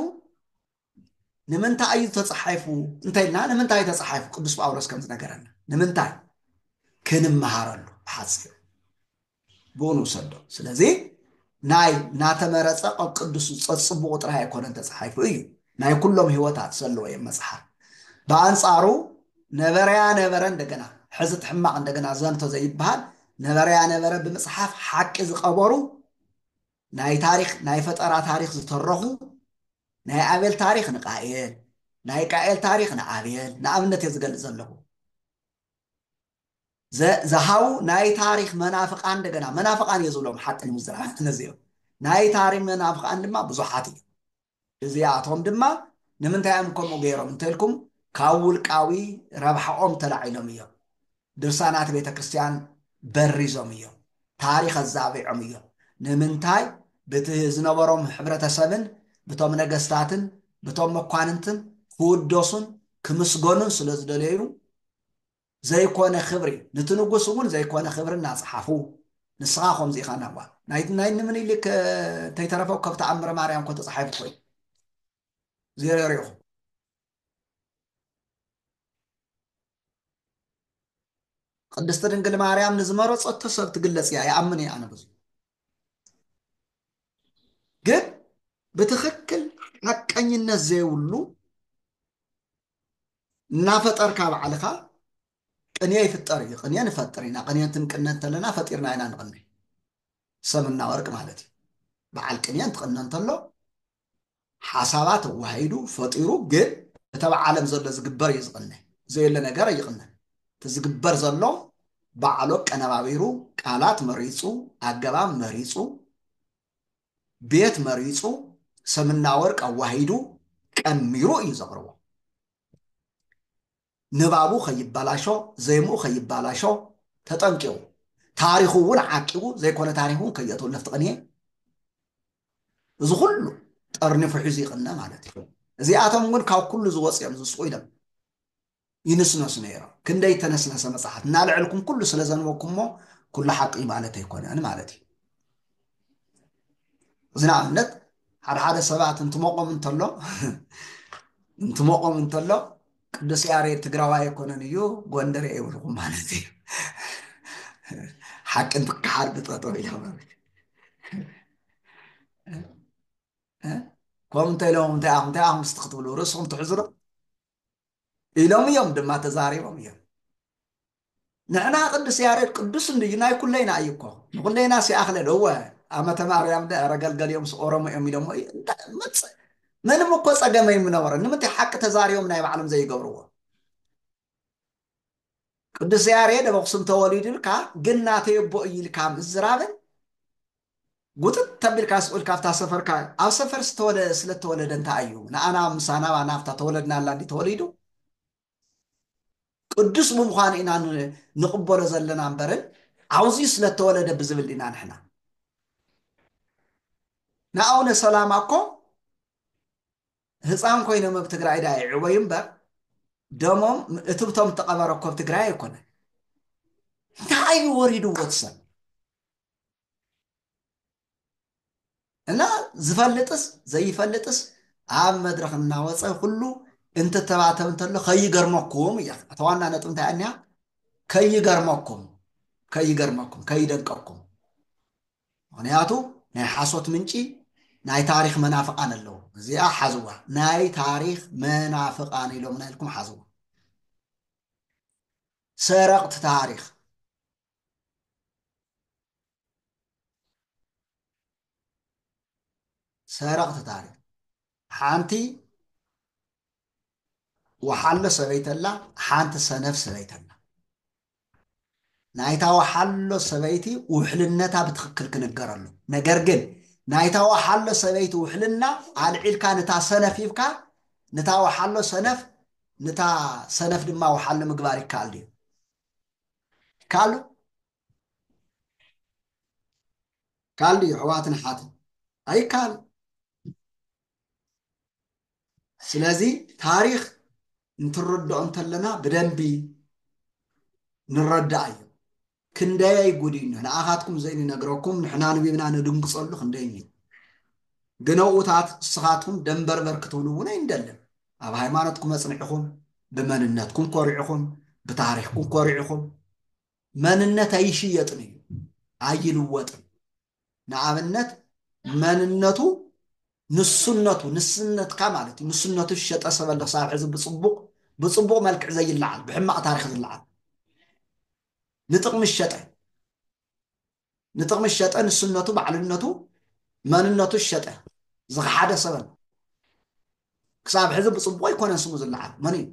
ንምንታይ እዩ ተፃሒፉ እንተይልና ንምንታይ እዩ ተፃሒፉ ቅዱስ ጳውሎስ ከም ዝነገረና ንምንታይ ክንመሃረሉ ብሓፂሩ ብኡ ንውሰዶ ስለዚ ናይ ናተመረፀ ቐብ ቅዱስ ፀፅቡቑ ጥራይ ኣይኮነን ተፃሒፉ እዩ ናይ ኩሎም ህይወታት ዘለዎ እዮም መፅሓፍ ብኣንፃሩ ነበረያ ነበረ እንደገና ሕዚ ትሕማቕ እንደገና ዘንቶ ዘይበሃል ነበረያ ነበረ ብምፅሓፍ ሓቂ ዝቐበሩ ናይ ታሪኽ ናይ ፈጠራ ታሪኽ ዝተረኹ ናይ ኣቤል ታሪኽ ንቃኤል ናይ ቃኤል ታሪኽ ንኣቤል ንኣብነት እየ ዝገልፅ ዘለኹ ዝሃቡ ናይ ታሪኽ መናፍቃን እንደገና መናፍቃን እየ ዝብሎም ሓቂ ንምዝራብ ነዚኦም ናይ ታሪኽ መናፍቃን ድማ ብዙሓት እዩ እዚኣቶም ድማ ንምንታይ እዮም ከምኡ ገይሮም እንተልኩም ካብ ውልቃዊ ረብሓኦም ተላዒሎም እዮም። ድርሳናት ቤተ ክርስቲያን በሪዞም እዮም። ታሪኽ ኣዛቢዖም እዮም። ንምንታይ ብቲ ዝነበሮም ሕብረተሰብን ብቶም ነገስታትን ብቶም መኳንንትን ክውደሱን ክምስገኑን ስለ ዝደለዩ ዘይኮነ ክብሪ ንቲ ንጉስ እውን ዘይኮነ ክብሪ እናፀሓፉ ንስኻ ከምዚ ኢኻ ናባ ናይ ናይ ንምኒሊክ እንተይተረፈ ከብ ተኣምረ ማርያም እኮ ተፃሒፉ እኮ እዩ ዜሮ ሪኢኹ ቅድስቲ ድንግል ማርያም ንዝመረፀቶ ሰብ ትግለፅ እያ ይኣምን እየ ኣነ ብዙ ግን ብትክክል ሓቀኝነት ዘይብሉ እናፈጠርካ ባዕልኻ ቅንየ ይፍጠር እዩ ቅንየ ንፈጥር ኢና ቅንየ እንትንቅነ እንተለና ፈጢርና ኢና ንቕንይ ሰምና ወርቅ ማለት እዩ በዓል ቅንየ እንትቕነ እንተሎ ሓሳባት ተዋሂዱ ፈጢሩ ግን እተብ ዓለም ዘሎ ዝግበር እዩ ዝቕነ ዘየለ ነገር ኣይቕነን እቲ ዝግበር ዘሎ ባዕሎ ቀነባቢሩ ቃላት መሪፁ ኣገባብ መሪፁ ቤት መሪጹ ሰምና ወርቅ ኣዋሂዱ ቀሚሩ እዩ ዘቕርቦ። ንባቡ ከይበላሾ፣ ዜምኡ ከይበላሾ ተጠንቂቑ፣ ታሪኹ እውን ዓቂቡ፣ ዘይኮነ ታሪኽ እውን ከየእትው ነፍቲ ቅንየ እዚ ኩሉ ጠርኒፉ ሒዙ ይቕነ ማለት እዩ። እዚኣቶም እውን ካብ ኩሉ እዚ ወጺኦም ዝስቑ ኢሎም ይንስነሱ ነይሮም ክንደይ እተነስነሰ መጽሓፍ እናልዐልኩም ኩሉ ስለ ዘንበብኩሞ ኩሉ ሓቂ እዩ ማለት ኣይኮነን ማለት እዩ እዚ ንኣብነት ሓደ ሓደ ሰባት እንትሞቆም እንተሎ እንትሞቆም እንተሎ ቅዱስ ያሬድ ትግራዋይ ኣይኮነን እዩ ጎንደር ይብልኩም ማለት እዩ ሓቂ እንትከሓድ ብጠጠው ኢሎም ከምኡ እንተ ኢሎም እንታይ ኣኹም እንታይ ኣኹም ስቲ ክትብሉ ርእስኹም ትሕዝሩ ኢሎም እዮም ድማ ተዛሪቦም እዮም ንሕና ቅዱስ ያሬድ ቅዱስ እንድዩ ናይ ኩለይና እዩ እኮ ንኩለይና ሲኣክለል እወ ኣመተ ማርያም ደረ ገልገሊኦም ኦሮሞ እዮም ኢሎሞ እዩ መፅእ ምንም እኮ ፀገመ ይምነበረ ንምንታይ ሓቂ ተዛሪቦም ናይ ባዕሎም ዘይገብርዎ ቅዱስ ያሬድ ኣብ ኣኽሱም ተወሊዱ ኢልካ ግን ናተይ ኣቦ እዩ ኢልካ ምዝራብን ጉጥጥ ተቢልካ ስቅ ኢልካ ኣብታ ሰፈርካ ኣብ ሰፈር ስለተወለደ እንታይ እዩ ንኣና ምሳና ኣባና ኣብታ ተወለድናላ እንዲ ተወሊዱ ቅዱስ ብምዃኑ ኢና ንቕበሎ ዘለና እምበርን ዓውዚኡ ስለተወለደ ብዝብል ዲና ንሕና ንኣቡነ ሰላማ እኮ ህፃን ኮይኖም ኣብ ትግራይ ድኣ ይዕበዩ እምበር ደሞም እትብቶም እተቐበረ እኮ ኣብ ትግራይ ኣይኮነን። እንታይ እዩ ወሪድዎ እቲ ሰብ እና ዝፈልጥስ ዘይፈልጥስ ኣብ መድረኽ እናወፀ ኩሉ እንትተባተብ እንተሎ ከይገርመኩም እያ እታ ዋና ነጥብ እንታይ እኒያ ከይገርመኩም ከይገርመኩም ከይደንቀኩም ምኽንያቱ ናይ ሓሶት ምንጪ ናይ ታሪኽ መናፍቃን ኣለዉ እዚኣ ሓዝዋ ናይ ታሪኽ መናፍቃን ኢሎምና ኢልኩም ሓዝዋ ሰረቕቲ ታሪኽ ሰረቕቲ ታሪኽ ሓንቲ ወሓሎ ሰበይቲ ኣላ ሓንቲ ሰነፍ ሰበይቲ ኣላ ናይታ ወሓሎ ሰበይቲ ውሕልነታ ብትኽክል ክንገር ኣሎ ነገር ግን ናይታ ወሓሎ ሰበይቲ ውሕልና ኣልዒልካ ንታ ሰነፍ ሂብካ ንታ ወሓሎ ሰነፍ ንታ ሰነፍ ድማ ወሓሎ ምግባር ይከኣል ድዩ ይከኣሉ ይካኣል ድዩ ኣሕዋትን ኣሓትን ኣይካኣልን ስለዚ ታሪክ እንትረድኦ እንተለና ብደንቢ ንረዳእ እዩ ክንደየይ ጉድ እዩ ንኣኻትኩም ዘይንነግረኩም ንሕና ንቢብና ንድንግፀሉ ክንደይ እዩ ግን ኣብኡታት ንስኻትኩም ደንበርበር ክትብሉ እውን ኣይንደልን ኣብ ሃይማኖትኩም ኣፅኒዕኹም ብመንነትኩም ኮሪዕኹም ብታሪክኩም ኮሪዕኹም መንነት ኣይሽየጥን እዩ ኣይልወጥን ንኣብነት መንነቱ ንሱነቱ ንስነትካ ማለት እዩ ንሱነቱ ዝሸጠ ሰብ ኣሎ ክሳብ ሕዚ ብፅቡቕ ብፅቡቕ መልክዕ ዘይለዓል ብሕማቕ ታሪክ ዝለዓል ንጥቕሚ ዝሸጠ ንጥቕሚ ዝሸጠ ንሱነቱ ባዕልነቱ መንነቱ ዝሸጠ ዝኸሓደ ሰብ ኣሎ ክሳብ ሕዚ ብፅቡቕ ኣይኮነን ስሙ ዝለዓል መን እዩ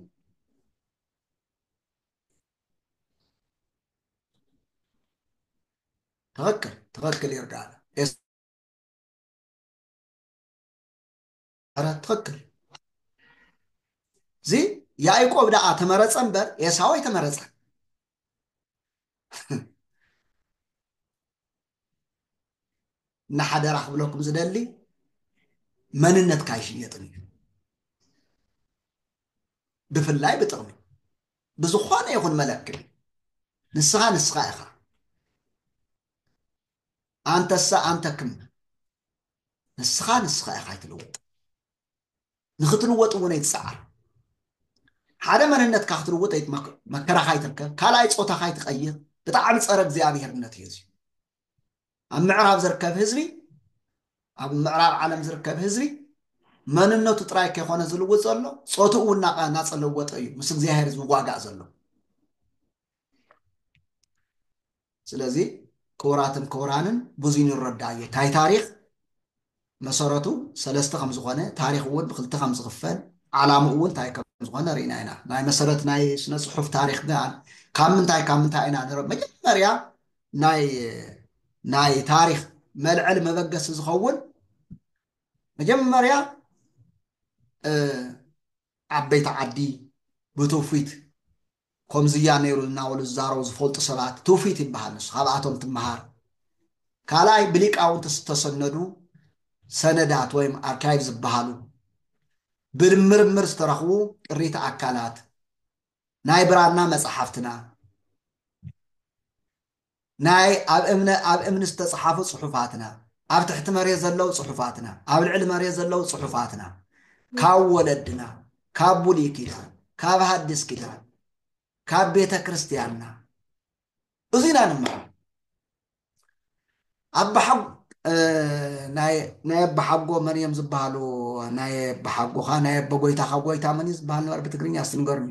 ትኽክል ትኽክል ይርጋለ ኧረ ትኽክል እዚ ያዕቆብ ደኣ ተመረፀ እምበር ኤሳው ኣይተመረፀን እና ሓደራ ክብለኩም ዝደሊ መንነትካ ኣይሽየጥን እዩ ብፍላይ ብጥቕሚ ብዝኾነ ይኹን መለክዒ ንስኻ ንስኻ ኢኻ ኣንተሳ ኣንተክም ንስኻ ንስኻ ኢኻ ኣይትልውጥ ንክትልወጥ እውን ኣይትፀዓር ሓደ መንነትካ ክትልውጥ መከራኻ ይትርከብ ካልኣይ ፆታኻ ይትቀይር ብጣዕሚ ፀረ እግዚኣብሄርነት እዩ እዚ ኣብ ምዕራብ ዝርከብ ህዝቢ ኣብ ምዕራብ ዓለም ዝርከብ ህዝቢ መንነቱ ጥራይ ከይኮነ ዝልውጥ ዘሎ ፆትኡ እውን እናፀለወጠ እዩ ምስ እግዚኣብሄር ዝዋጋእ ዘሎ ስለዚ ክቡራትን ክቡራንን ብዙይ ንረዳዮ ታይ ታሪኽ መሰረቱ ሰለስተ ከም ዝኾነ ታሪኽ እውን ብክልተ ከም ዝኽፈል ዓላምኡ እውን ታይ ከም ዝኾነ ርኢና ኢና ናይ መሰረት ናይ ስነ ፅሑፍ ታሪኽ ግን ካብ ምንታይ ካብ ምንታይ ኢና ንረ መጀመርያ ናይ ናይ ታሪኽ መልዕሊ መበገሲ ዝኸውን መጀመርያ ዓበይቲ ዓዲ ብትውፊት ኮምዚያ ነይሩ እናበሉ ዝዛረቡ ዝፈልጡ ሰባት ትውፊት ይበሃል ንሱ ካብኣቶም ትመሃር ካልኣይ ብሊቃውንቲ ዝተሰነዱ ሰነዳት ወይም ኣርካይቭ ዝበሃሉ ብምርምር ዝተረኽቡ ቅሪተ ኣካላት ናይ ብራና መጻሕፍትና ናይ ኣብ እምነ ኣብ እምኒ ዝተጽሓፉ ጽሑፋትና፣ ኣብ ትሕቲ መሬት ዘለዉ ጽሑፋትና፣ ኣብ ልዕሊ መሬት ዘለዉ ጽሑፋትና፣ ካብ ወለድና፣ ካብ ብሉይ ኪዳን፣ ካብ ሃዲስ ኪዳን፣ ካብ ቤተ ክርስቲያንና፣ እዙይ ኢና ንመሃር። ናይ ኣባሓጎ መን እዮም ዝበሃሉ ናይ ኣባሓጎኻ ናይ ኣቦጎይታኻ ጎይታ መን እዩ ዝበሃል ነበር ብትግርኛ እስቲ ንገሩኒ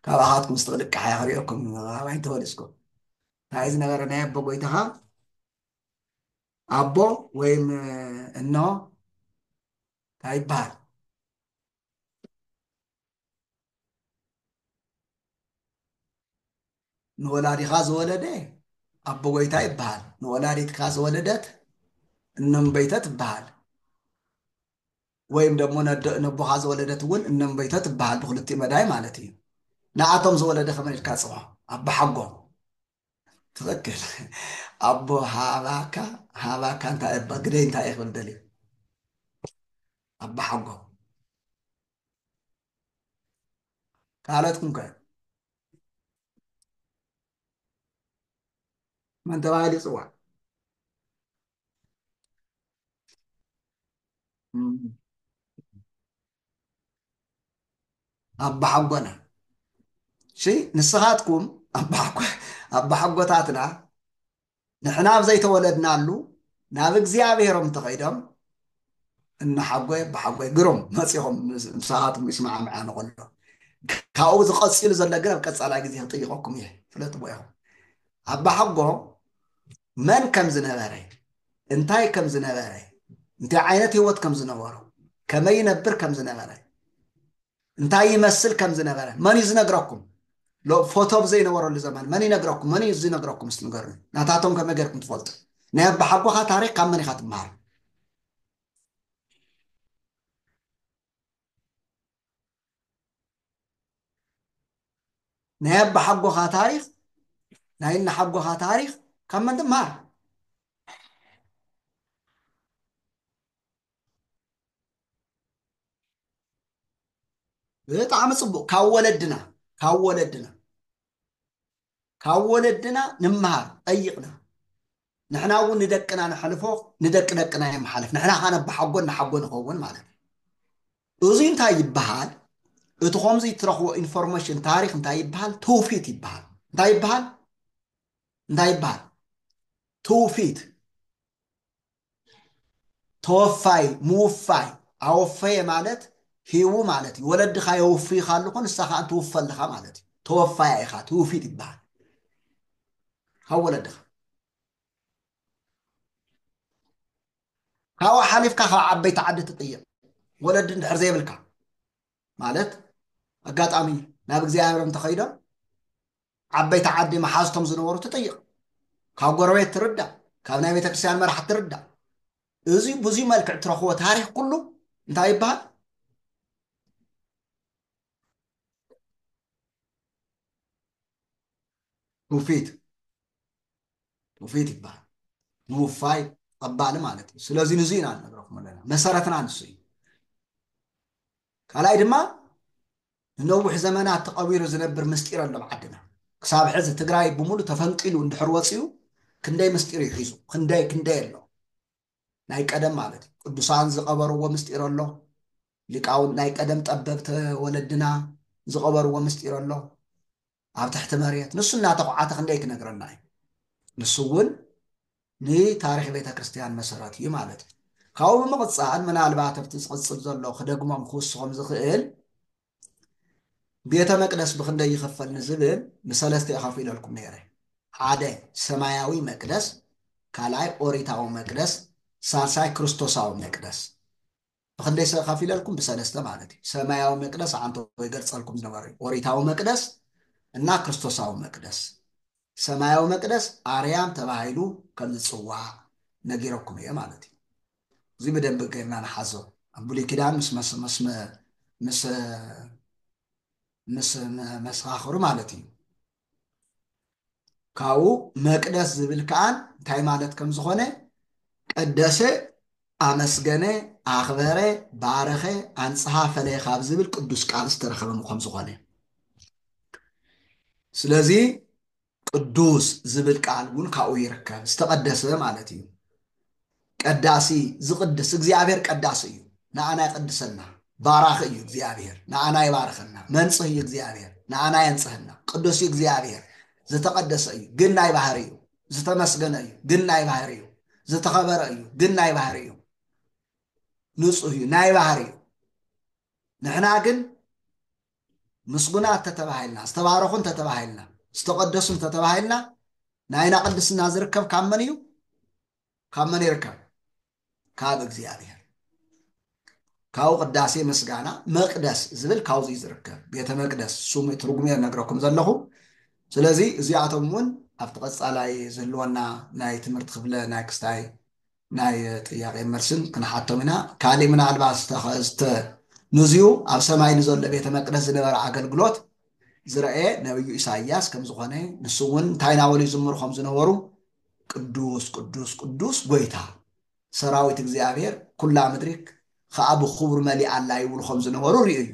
ካብኣኻትኩም ስቲ ክልቃሕ እያ ክሪኦኩም ኣባይ ተወሊስኩም እንታይ እዩ ዝነበረ ናይ ኣቦጎይታኻ ኣቦ ወይም እኖ እንታይ ይበሃል ንወላዲኻ ዝወለደ ኣቦ ጎይታ ይበሃል ንወላዲትካ ዝወለደት እነምበይተ ትበሃል ወይም ደግሞ ነቦኻ ዝወለደት እውን እነምበይተ ትበሃል ብክልቲኡ መዳይ ማለት እዩ ንኣቶም ዝወለደ ከመይ ኢልካ ፅዋ ኣቦ ሓጎም ትኽክል ኣቦ ሃባካ ሃባካ እንታይ እባ ግደይ እንታይ እየ ክብል ደልዩ ኣቦ ሓጎም ካልኦትኩም ከ መን ተባሂሉ ይፅዋዕ? ኣባሓጎና እሺ፣ ንስኻትኩም ኣባሓጎታትና ንሕና ኣብ ዘይተወለድናሉ ናብ እግዚኣብሔሮም ተኸይዶም እነሓጎ ብሓጎ ግሩም መፂኹም ምሳኻትኩም ይስማዕምዐ ንኸሎ ካብኡ ዝቐፂሉ ዘሎ ግን ኣብ ቀፃላይ ግዜ ክጥይቐኩም እየ ፍለጥዎ ኢኹም ኣባሓጎ መን ከም ዝነበረ እንታይ ከም ዝነበረ እንታይ ዓይነት ህይወት ከም ዝነበሩ ከመይ ይነብር ከም ዝነበረ እንታይ ይመስል ከም ዝነበረ መን እዩ ዝነግረኩም? ሎ ፎቶ ብ ዘይነበረሉ ዘመን መን ይነግረኩም? መን እዩ ዝነግረኩም እስቲ ንገሩኒ? ናታቶም ከመይ ጌርኩም ትፈልጡ? ናይ ኣባሓጎኻ ታሪኽ ካብ መን ኢኻ ትመሃር? ናይ ኣባሓጎኻ ታሪኽ ናይ እናሓጎኻ ታሪኽ ካብ መን ትመሃር? ብጣዕሚ ፅቡቅ ካብ ወለድና ካብ ወለድና ካብ ወለድና ንመሃር ጠይቅና ንሕና እውን ንደቅና ነሕልፎ ንደቂ ደቅና የመሓልፍ ንሕና ከዓ ነባሓጎ እናሓጎ ንኸውን ማለት እዩ እዙይ እንታይ ይበሃል እቲ ከምዚ እትረኽቦ ኢንፎርሜሽን ታሪክ እንታይ ይበሃል ትውፊት ይበሃል እንታይ ይበሃል እንታይ ይበሃል ትውፊት ተወፋይ፣ ምውፋይ፣ ኣወፈየ ማለት ሂቡ ማለት እዩ። ወለድኻ የውፍዩኻ ኣለኹ ንሳ ከኣ ትውፈ ኣለኻ ማለት እዩ። ተወፋያ ኢኻ፣ ትውፊት ይበሃል ካብ ወለድኻ። ካብኡ ሓሊፍካ ካብ ዓበይቲ ዓዲ ትጥየቕ፣ ወለዲ እንድሕር ዘይብልካ። ማለት ኣጋጣሚ ናብ እግዚኣብሔር እንተኸይዶም ዓበይቲ ዓዲ መሓዝቶም ዝነበሩ ትጠይቕ ካብ ጎረቤት ትርዳእ ካብ ናይ ቤተክርስትያን መራሕ ትርዳእ እዚ ብዙ መልክዕ ትረኽቦ ታሪክ ኩሉ እንታይ ይበሃል ትውፊት ትውፊት ይበሃል ምውፋይ ቐባሊ ማለት እዩ ስለዚ ንዙ ኢና ንነግረኩም ኣለና መሰረትና ንሱ እዩ ካልኣይ ድማ ንነዊሕ ዘመናት ተቐቢሩ ዝነብር ምስጢር ኣሎ ኣብ ዓድና ክሳብ ሕዚ ትግራይ ብምሉ ተፈንቂሉ እንድሕር ወፅኡ ክንደይ ምስጢር እዩ ሒዙ ክንደይ ክንደይ ኣሎ ናይ ቀደም ማለት እዩ ቅዱሳን ዝቐበርዎ ምስጢር ኣሎ ሊቃውን ናይ ቀደም ጠበብቲ ወለድና ዝቐበርዎ ምስጢር ኣሎ ኣብ ትሕቲ መሬት ንሱ እናተኹዓተ ክንደይ ክነግረና እዩ ንሱ እውን ንታሪክ ቤተ ክርስትያን መሰረት እዩ ማለት እዩ ካብኡ ብምቕፃል ምናልባት ኣብቲ ዝቕፅል ዘሎ ክደግሞም ክውስኾም ዝኽእል ቤተ መቅደስ ብክንደይ ይኽፈል ንዝብል ብሰለስተ የኸፊለልኩም ነይረ ሓደ ሰማያዊ መቅደስ ካልኣይ ኦሪታዊ መቅደስ ሳልሳይ ክርስቶሳዊ መቅደስ ብኽንደይ ሰ ኸፊለልኩም ብሰለስተ ማለት እዩ ሰማያዊ መቅደስ ኣንተ ወይ ገርጸልኩም ዝነበረ እዩ ኦሪታዊ መቅደስ እና ክርስቶሳዊ መቅደስ ሰማያዊ መቅደስ ኣርያም ተባሂሉ ከም ዝጽዋዕ ነጊረኩም እየ ማለት እዩ እዚ ብደንብ ገርና ንሓዞ ኣብ ብሉይ ኪዳን ምስ ምስ ምስ ምስ መሰኻኽሩ ማለት እዩ ካብኡ መቅደስ ዝብል ከኣ እንታይ ማለት ከም ዝኾነ ቀደሰ፣ ኣመስገነ፣ ኣኽበረ፣ ባረኸ፣ ኣንጽሃ፣ ፈለየ ካብ ዝብል ቅዱስ ቃል ዝተረኸበ ከም ዝኾነ ስለዚ ቅዱስ ዝብል ቃል እውን ካብኡ ይርከብ ዝተቀደሰ ማለት እዩ። ቀዳሲ ዝቅድስ እግዚኣብሔር ቀዳሲ እዩ ንኣና ይቅድሰና ባራኺ እዩ እግዚኣብሔር ንኣና ይባርኸና መንጽህ እዩ እግዚኣብሔር ንኣና የንጽህና ቅዱስ እዩ እግዚኣብሔር ዝተቀደሰ እዩ ግን ናይ ባህሪ እዩ ዝተመስገነ እዩ ግን ናይ ባህሪ እዩ ዝተኸበረ እዩ ግን ናይ ባህሪ እዩ ንጹህ እዩ ናይ ባህሪ እዩ ንሕና ግን ምስጉናት ተተባሂልና ዝተባረኹ እንተተባሂልና ዝተቀደሱ እንተተባሂልና ናይና ቅድስና ዝርከብ ካብ መን እዩ ካብ መን ይርከብ ካብ እግዚኣብሔር ካብኡ ቅዳሴ ምስጋና መቅደስ ዝብል ካብዚ ዝርከብ ቤተ መቅደስ ስሙ ትርጉሙ ነግረኩም ዘለኹ ስለዚ እዚኣቶም እውን ኣብቲ ቀፃላይ ዝህልወና ናይ ትምህርቲ ክፍለ ናይ ክስታይ ናይ ጥያቄ መልስን ክንሓቶም ኢና ካሊእ ምናልባት ዝተንዝዩ ኣብ ሰማይ ንዘሎ ቤተ መቅደስ ዝነበረ ኣገልግሎት ዝረአየ ነብዩ ኢሳያስ ከምዝኾነ ንሱ እውን እንታይ ናበሉ ይዝምሩ ከም ዝነበሩ ቅዱስ ቅዱስ ቅዱስ ጐይታ ሠራዊት እግዚኣብሔር ኵላ ምድሪ ኸኣ ብኽብሩ መሊኣ ኣላ ይብሉ ኸም ዝነበሩ ርእዩ እዩ።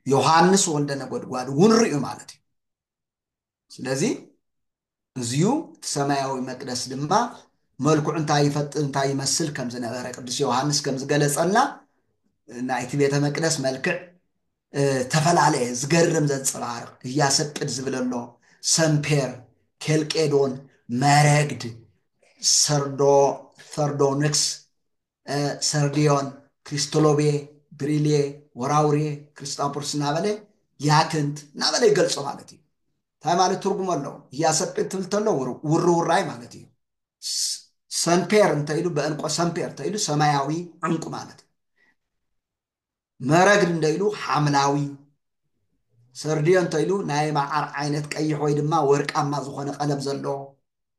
ዮሓንስ ወልደ ነጐድጓድ እውን ርእዩ ማለት እዩ። ስለዚ እዚዩ እቲ ሰማያዊ መቅደስ ድማ መልክዑ እንታይ ይፈጥር እንታይ ይመስል ከም ዝነበረ ቅዱስ ዮሓንስ ከም ዝገለጸልና ናይቲ ቤተ መቅደስ መልክዕ ተፈላለየ ዝገርም ዘንጸባርቕ እያሰቅድ ዝብል ኣሎ ሰምፔር ኬልቄዶን መረግድ ሰርዶ ሰርዶንክስ ሰርዲዮን ክሪስቶሎቤ ብሪልየ ወራውርየ ክሪስታፖርስ እናበለ ያክንት እናበለ ይገልጾ ማለት እዩ እንታይ ማለት ትርጉም ኣለዎ እያሰቅድ ትብል ተሎ ውርውራይ ማለት እዩ ሰምፔር እንተኢሉ በእንቆ ሰምፔር እንተኢሉ ሰማያዊ ዕንቁ ማለት እዩ መረግ እንተኢሉ ሓምላዊ፣ ሰርድዮ እንተኢሉ ናይ መዓር ዓይነት ቀይሕ ወይ ድማ ወርቃማ ዝኾነ ቀለም ዘለዎ፣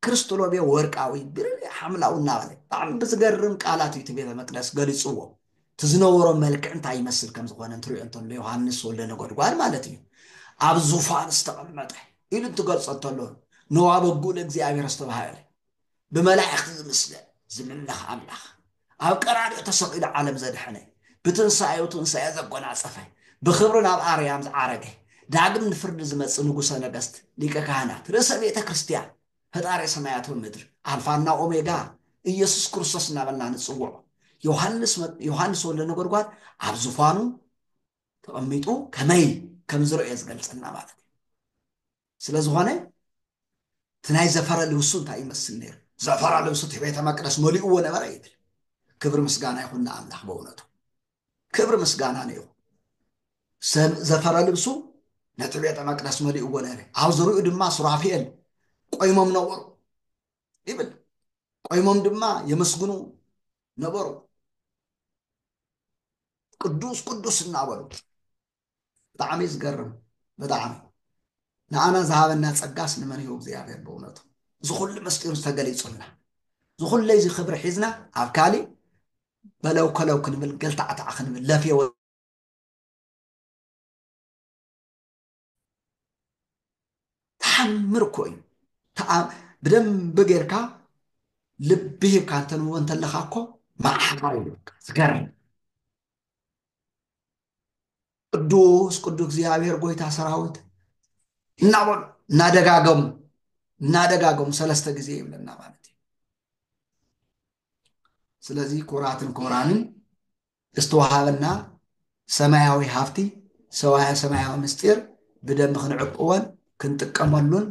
ክርስትሎቤ ወርቃዊ፣ ብርሌ ሓምላዊ እናበለ ብጣዕሚ ብዝገርም ቃላት እዩ እቲ ቤተ መቅደስ ገሊጽዎ። እቲ ዝነበሮ መልክዕ እንታይ ይመስል ከም ዝኾነ እንትሪኦ እንተሎ ዮሃንስ ወልደ ነጎድጓድ ማለት እዩ ኣብ ዙፋን ዝተቐመጠ ኢሉ እንትገልጾ እንተሎ ንዋበጉእ ለእግዚኣብሔር ዝተባህለ ብመላእኽቲ ዝምስለ ዝምለኽ ኣምላኽ፣ ኣብ ቀራንዮ ተሰቒሉ ዓለም ዘድሐነ፣ ብትንሳኤኡ ትንሳኤ ዘጎናጸፈ፣ ብኽብሪ ናብ ኣርያም ዝዓረገ፣ ዳግም ንፍርዲ ዝመጽእ ንጉሠ ነገሥት፣ ሊቀ ካህናት፣ ርእሰ ቤተ ክርስቲያን፣ ፈጣሬ ሰማያት ወምድር፣ ኣልፋና ኦሜጋ፣ ኢየሱስ ክርስቶስ እናበልና ንጽውዖ ዮሐንስ ዮሐንስ ወልደ ነጎድጓድ ኣብ ዙፋኑ ተቐሚጡ ከመይ ከም ዝረእዮ ዝገልጸልና ማለት እዩ። ስለ ዝኾነ እቲ ናይ ዘፈረ ልብሱ እንታይ ይመስል ነይሩ? ዘፈረ ልብሱ እቲ ቤተ መቅደስ መሊእዎ ነበረ ይብል። ክብሪ ምስጋና ይኹን ንኣምላኽ በእውነቱ ክብሪ ምስጋና ነይኹ ዘፈረ ልብሱ ነቲ ቤተ መቅደስ መሊእዎ ነረ ኣብ ዝርኡ ድማ ሱራፊኤል ቆይሞም ነበሩ ይብል ቆይሞም ድማ የመስግኑ ነበሩ ቅዱስ ቅዱስ እናበሉ ብጣዕሚ እዩ ዝገርም ብጣዕሚ ንኣና ዝሃበና ጸጋስ ንመን እዩ እግዚኣብሔር ብእውነቱ እዚ ኩሉ ምስጢሩ ዝተገሊጹልና እዚ ኩለይ እዚ ክብሪ ሒዝና ኣብ ካሊእ በለው ከለው ክንብል ገልታዕታዕ ክንብል ለፍየ ተሓምር እኮ እዩ ብደንብ ጌርካ ልቢ ሂብካ እንተንብቦ እንተለካ እኮ መዓሃር እዩ ዝገርም ቅዱስ ቅዱስ እግዚኣብሔር ጎይታ ሰራዊት እናበሉ እናደጋገሙ እናደጋገሙ ሰለስተ ጊዜ ይብለና ማለት እዩ ስለዚ ኩራትን ኮራንን ዝተዋሃበና ሰማያዊ ሃብቲ ሰማያዊ ምስጢር ብደንብ ክንዕቅወን ክንጥቀመሉን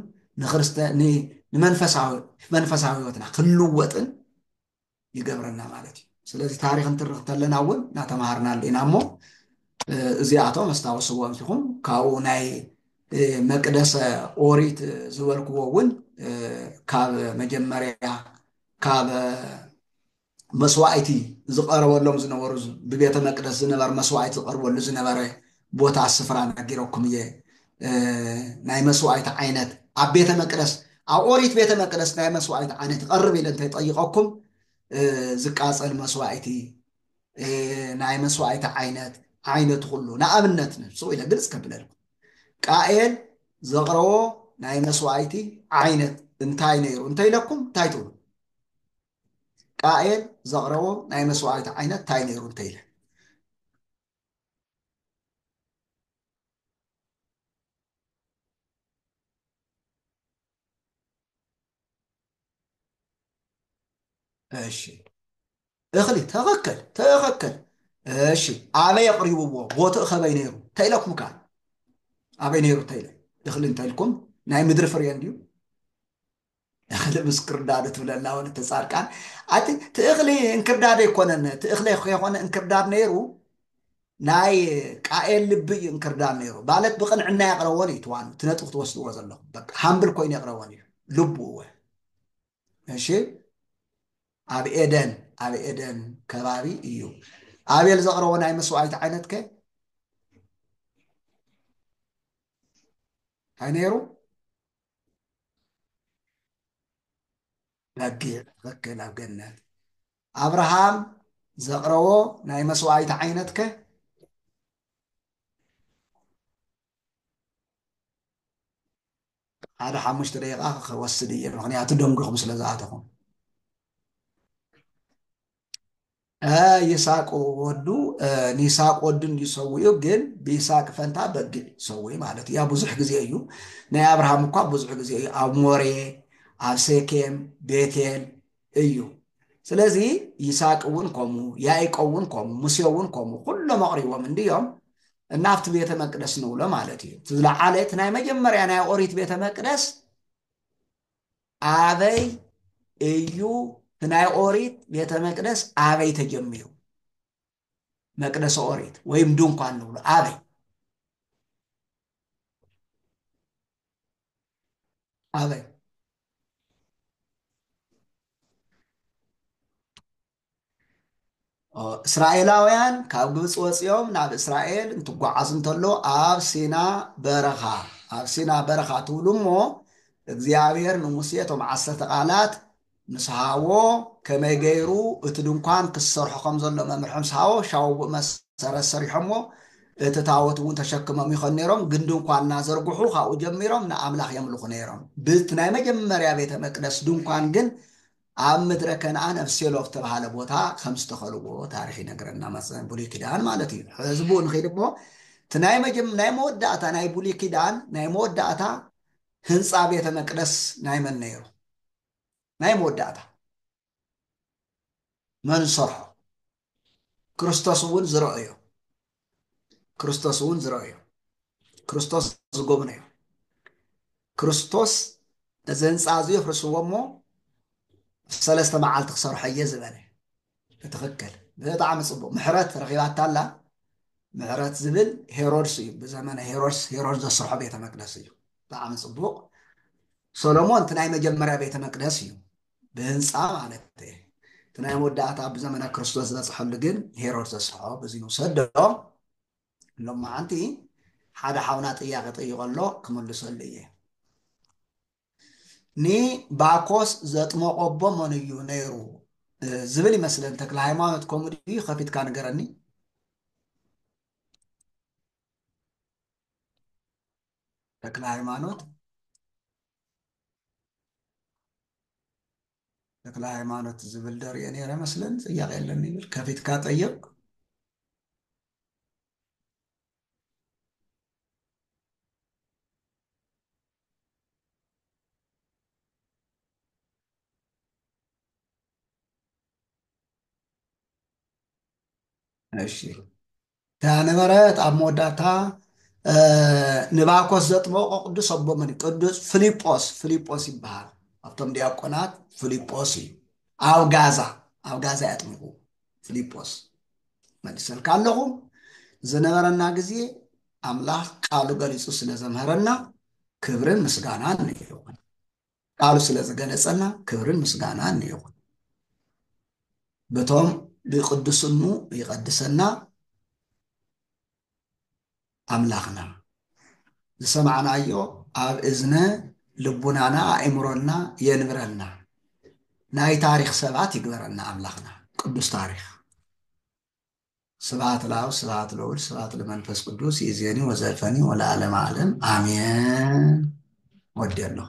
ንመንፈሳዊ ህይወትና ክንልወጥን ይገብረና ማለት እዩ ስለዚ ታሪክ እንትርኽ ተለና እውን ናተምሃርናሉ ኢና እሞ እዚኣቶም ኣስታውስዎ እንቲኹም ካብኡ ናይ መቅደሰ ኦሪት ዝበልክዎ እውን ካብ መጀመርያ ካብ መስዋእቲ ዝቀረበሎም ዝነበሩ ብቤተ መቅደስ ዝነበረ መስዋእቲ ዝቀርበሉ ዝነበረ ቦታ ስፍራ ነጊረኩም እየ ናይ መስዋእቲ ዓይነት ኣብ ቤተ መቅደስ ኣብ ኦሪት ቤተ መቅደስ ናይ መስዋእቲ ዓይነት ይቐርብ ኢለ እንተይጠይቐኩም ዝቃፀል መስዋእቲ ናይ መስዋእቲ ዓይነት ዓይነት ኩሉ ንኣብነት ንሱ ኢለ ግልፅ ከብለልኩም ቃኤል ዘቕረቦ ናይ መስዋእቲ ዓይነት እንታይ ነይሩ እንተይለኩም እንታይ ትብሉ ቃኤል ዘቕረቦ ናይ መስዋእቲ ዓይነት እንታይ ነይሩ እንተይለ እሺ እኽሊ ተኸከል ተኸከል እሺ ኣበይ ኣቕሪብዎ ቦትኡ ከበይ ነይሩ ተኢለኩም ከዓ ኣበይ ነይሩ ተኢለ እኽሊ እንተኢልኩም ናይ ምድሪ ፍርየ እንድዩ እኽሊ ምስ ክርዳዱ ትብለና ወለተ ጻድቃን ኣቲ ትእኽሊ እንክርዳድ ኣይኮነን ትእኽሊ ከይኮነ እንክርዳድ ነይሩ ናይ ቃኤል ልቢ እዩ እንክርዳድ ነይሩ ማለት ብቅንዕና የቕረቦን እዩ ትዋኑ እቲ ነጥቢ ክትወስድዎ ዘለኹም በቃ ሃምብል ኮይኑ የቕረቦን እዩ ልቡ እወ እሺ ኣብ ኤደን ኣብ ኤደን ከባቢ እዩ ኣቤል ዘቕረቦ ናይ መስዋዕቲ ዓይነት ከ እንታይ ነይሩ በጊዕ ትኽክል ኣብ ገነት ኣብርሃም ዘቕረቦ ናይ መስዋዕይቲ ዓይነት ከ ሓደ ሓሙሽተ ደቂቃ ክወስድ እየ ምክንያቱ ደንጉኹም ስለ ዝኣተኹም ይስሐቅ ወዱ ንይስሐቅ ወዱ እንድዩ ሰዊኡ ግን ብይስሐቅ ፈንታ በጊዕ ሰዊ ማለት እዩ ያ ብዙሕ ግዜ እዩ ናይ ኣብርሃም እኳ ብዙሕ ግዜ እዩ ኣብ ሞሬ ኣብ ሴኬም ቤቴል እዩ ስለዚ ይስሐቅ እውን ከምኡ ያዕቆብ እውን ከምኡ ሙሴ እውን ከምኡ ኩሎም ኣቕሪቦም እንድዮም እናብቲ ቤተ መቅደስ ንብሎ ማለት እዩ እቲ ዝለዓለ እቲ ናይ መጀመርያ ናይ ኦሪት ቤተ መቅደስ ኣበይ እዩ ናይ ኦሪት ቤተ መቅደስ ኣበይ ተጀሚሩ? መቅደሰ ኦሪት ወይም ድንኳን ንብሎ ኣበይ? ኣበይ? እስራኤላውያን ካብ ግብፂ ወፂኦም ናብ እስራኤል እንትጓዓዙ እንተሎ ኣብ ሲና በረኻ ኣብ ሲና በረኻ ትብሉ እሞ እግዚኣብሔር ንሙሴ እቶም ዓሰርተ ቃላት ምስ ሃቦ ከመይ ገይሩ እቲ ድንኳን ክሰርሖ ከም ዘሎ መምርሒ ምስ ሃቦ ሻውቡ መሰረት ሰሪሖሞ እቲ ታወት እውን ተሸክሞም ይኸን ነይሮም ግን ድንኳን እናዘርግሑ ካብኡ ጀሚሮም ንኣምላኽ የምልኹ ነይሮም ብቲ ናይ መጀመርያ ቤተ መቅደስ ድንኳን ግን ኣብ ምድረ ከነኣን ኣብ ሴሎ ኣብ ዝተብሃለ ቦታ ከም ዝተኸልዎ ታሪኽ ይነግረና፣ መጽ- ብሉይ ኪዳን ማለት እዩ። ሕዚ ብኡ ንኺድ እሞ እቲ ናይ መጀም ናይ መወዳእታ ናይ ብሉይ ኪዳን ናይ መወዳእታ ህንጻ ቤተ መቅደስ ናይ መን ነይሩ? ናይ መወዳእታ መን ሰርሖ? ክርስቶስ እውን ዝረኦዮ ክርስቶስ እውን ዝረኦዮ ክርስቶስ ዝጎብነዮ ክርስቶስ እዚ ህንፃ እዚ የፍርስዎ እሞ ሰለስተ መዓልቲ ክሰርሖ እየ ዝበለ ብትኽክል ብጣዕሚ ፅቡቅ ምሕረት ረኪባታ ኣላ ምሕረት ዝብል ሄሮድስ እዩ ብዘመነ ሄሮድስ ሄሮድስ ዘስርሖ ቤተ መቅደስ እዩ ብጣዕሚ ፅቡቅ ሰሎሞን እቲ ናይ መጀመርያ ቤተ መቅደስ እዩ ብህንጻ ማለት እየ እቲ ናይ መወዳእታ ብዘመነ ክርስቶስ ዝበጽሐሉ ግን ሄሮድ ዘስርሖ በዚ ንውሰዶ ሎማዓንቲ ሓደ ሓውና ጥያቄ ጠይቆ ኣሎ ክምልሰሉ እየ ንባኮስ ዘጥመቆ ኣቦ መን እዩ ነይሩ ዝብል ይመስለን ተክለ ሃይማኖት ከምኡ ድዩ ከፊትካ ንገረኒ ተክለ ሃይማኖት ተክለ ሃይማኖት ዝብል ደርየ ነይረ መስለን ጥያቄ የለን ይብል ከፊትካ ጠይቅ እሺ ነበረት ኣብ መወዳእታ ንባኮስ ዘጥመቖ ቅዱስ ኣቦ መን እዩ? ቅዱስ ፍሊጶስ ፍሊጶስ ይበሃል ኣብቶም ዲያቆናት ፍሊጶስ እዩ ኣብ ጋዛ ኣብ ጋዛ ያጥምቑ ፍሊጶስ መልሰልካ ኣለኹ ዝነበረና ግዜ ኣምላኽ ቃሉ ገሊጹ ስለ ዘምሃረና ክብርን ምስጋናን ይኹን ቃሉ ስለ ዝገለጸልና ክብርን ምስጋናን ይኹን በቶም ብቅዱስኑ ይቐድሰና ኣምላኽና ዝሰማዕናዮ ኣብ እዝነ ልቡናና ኣእምሮና የንብረልና ናይ ታሪኽ ሰባት ይግበረና ኣምላኽና ቅዱስ ታሪኽ ስብሃት ለኣብ ስብሃት ለወልድ ስብሃት ለመንፈስ ቅዱስ ይእዜኒ ወዘልፈኒ ወለዓለመ ዓለም ኣሜን ወዲየ ኣለኹ።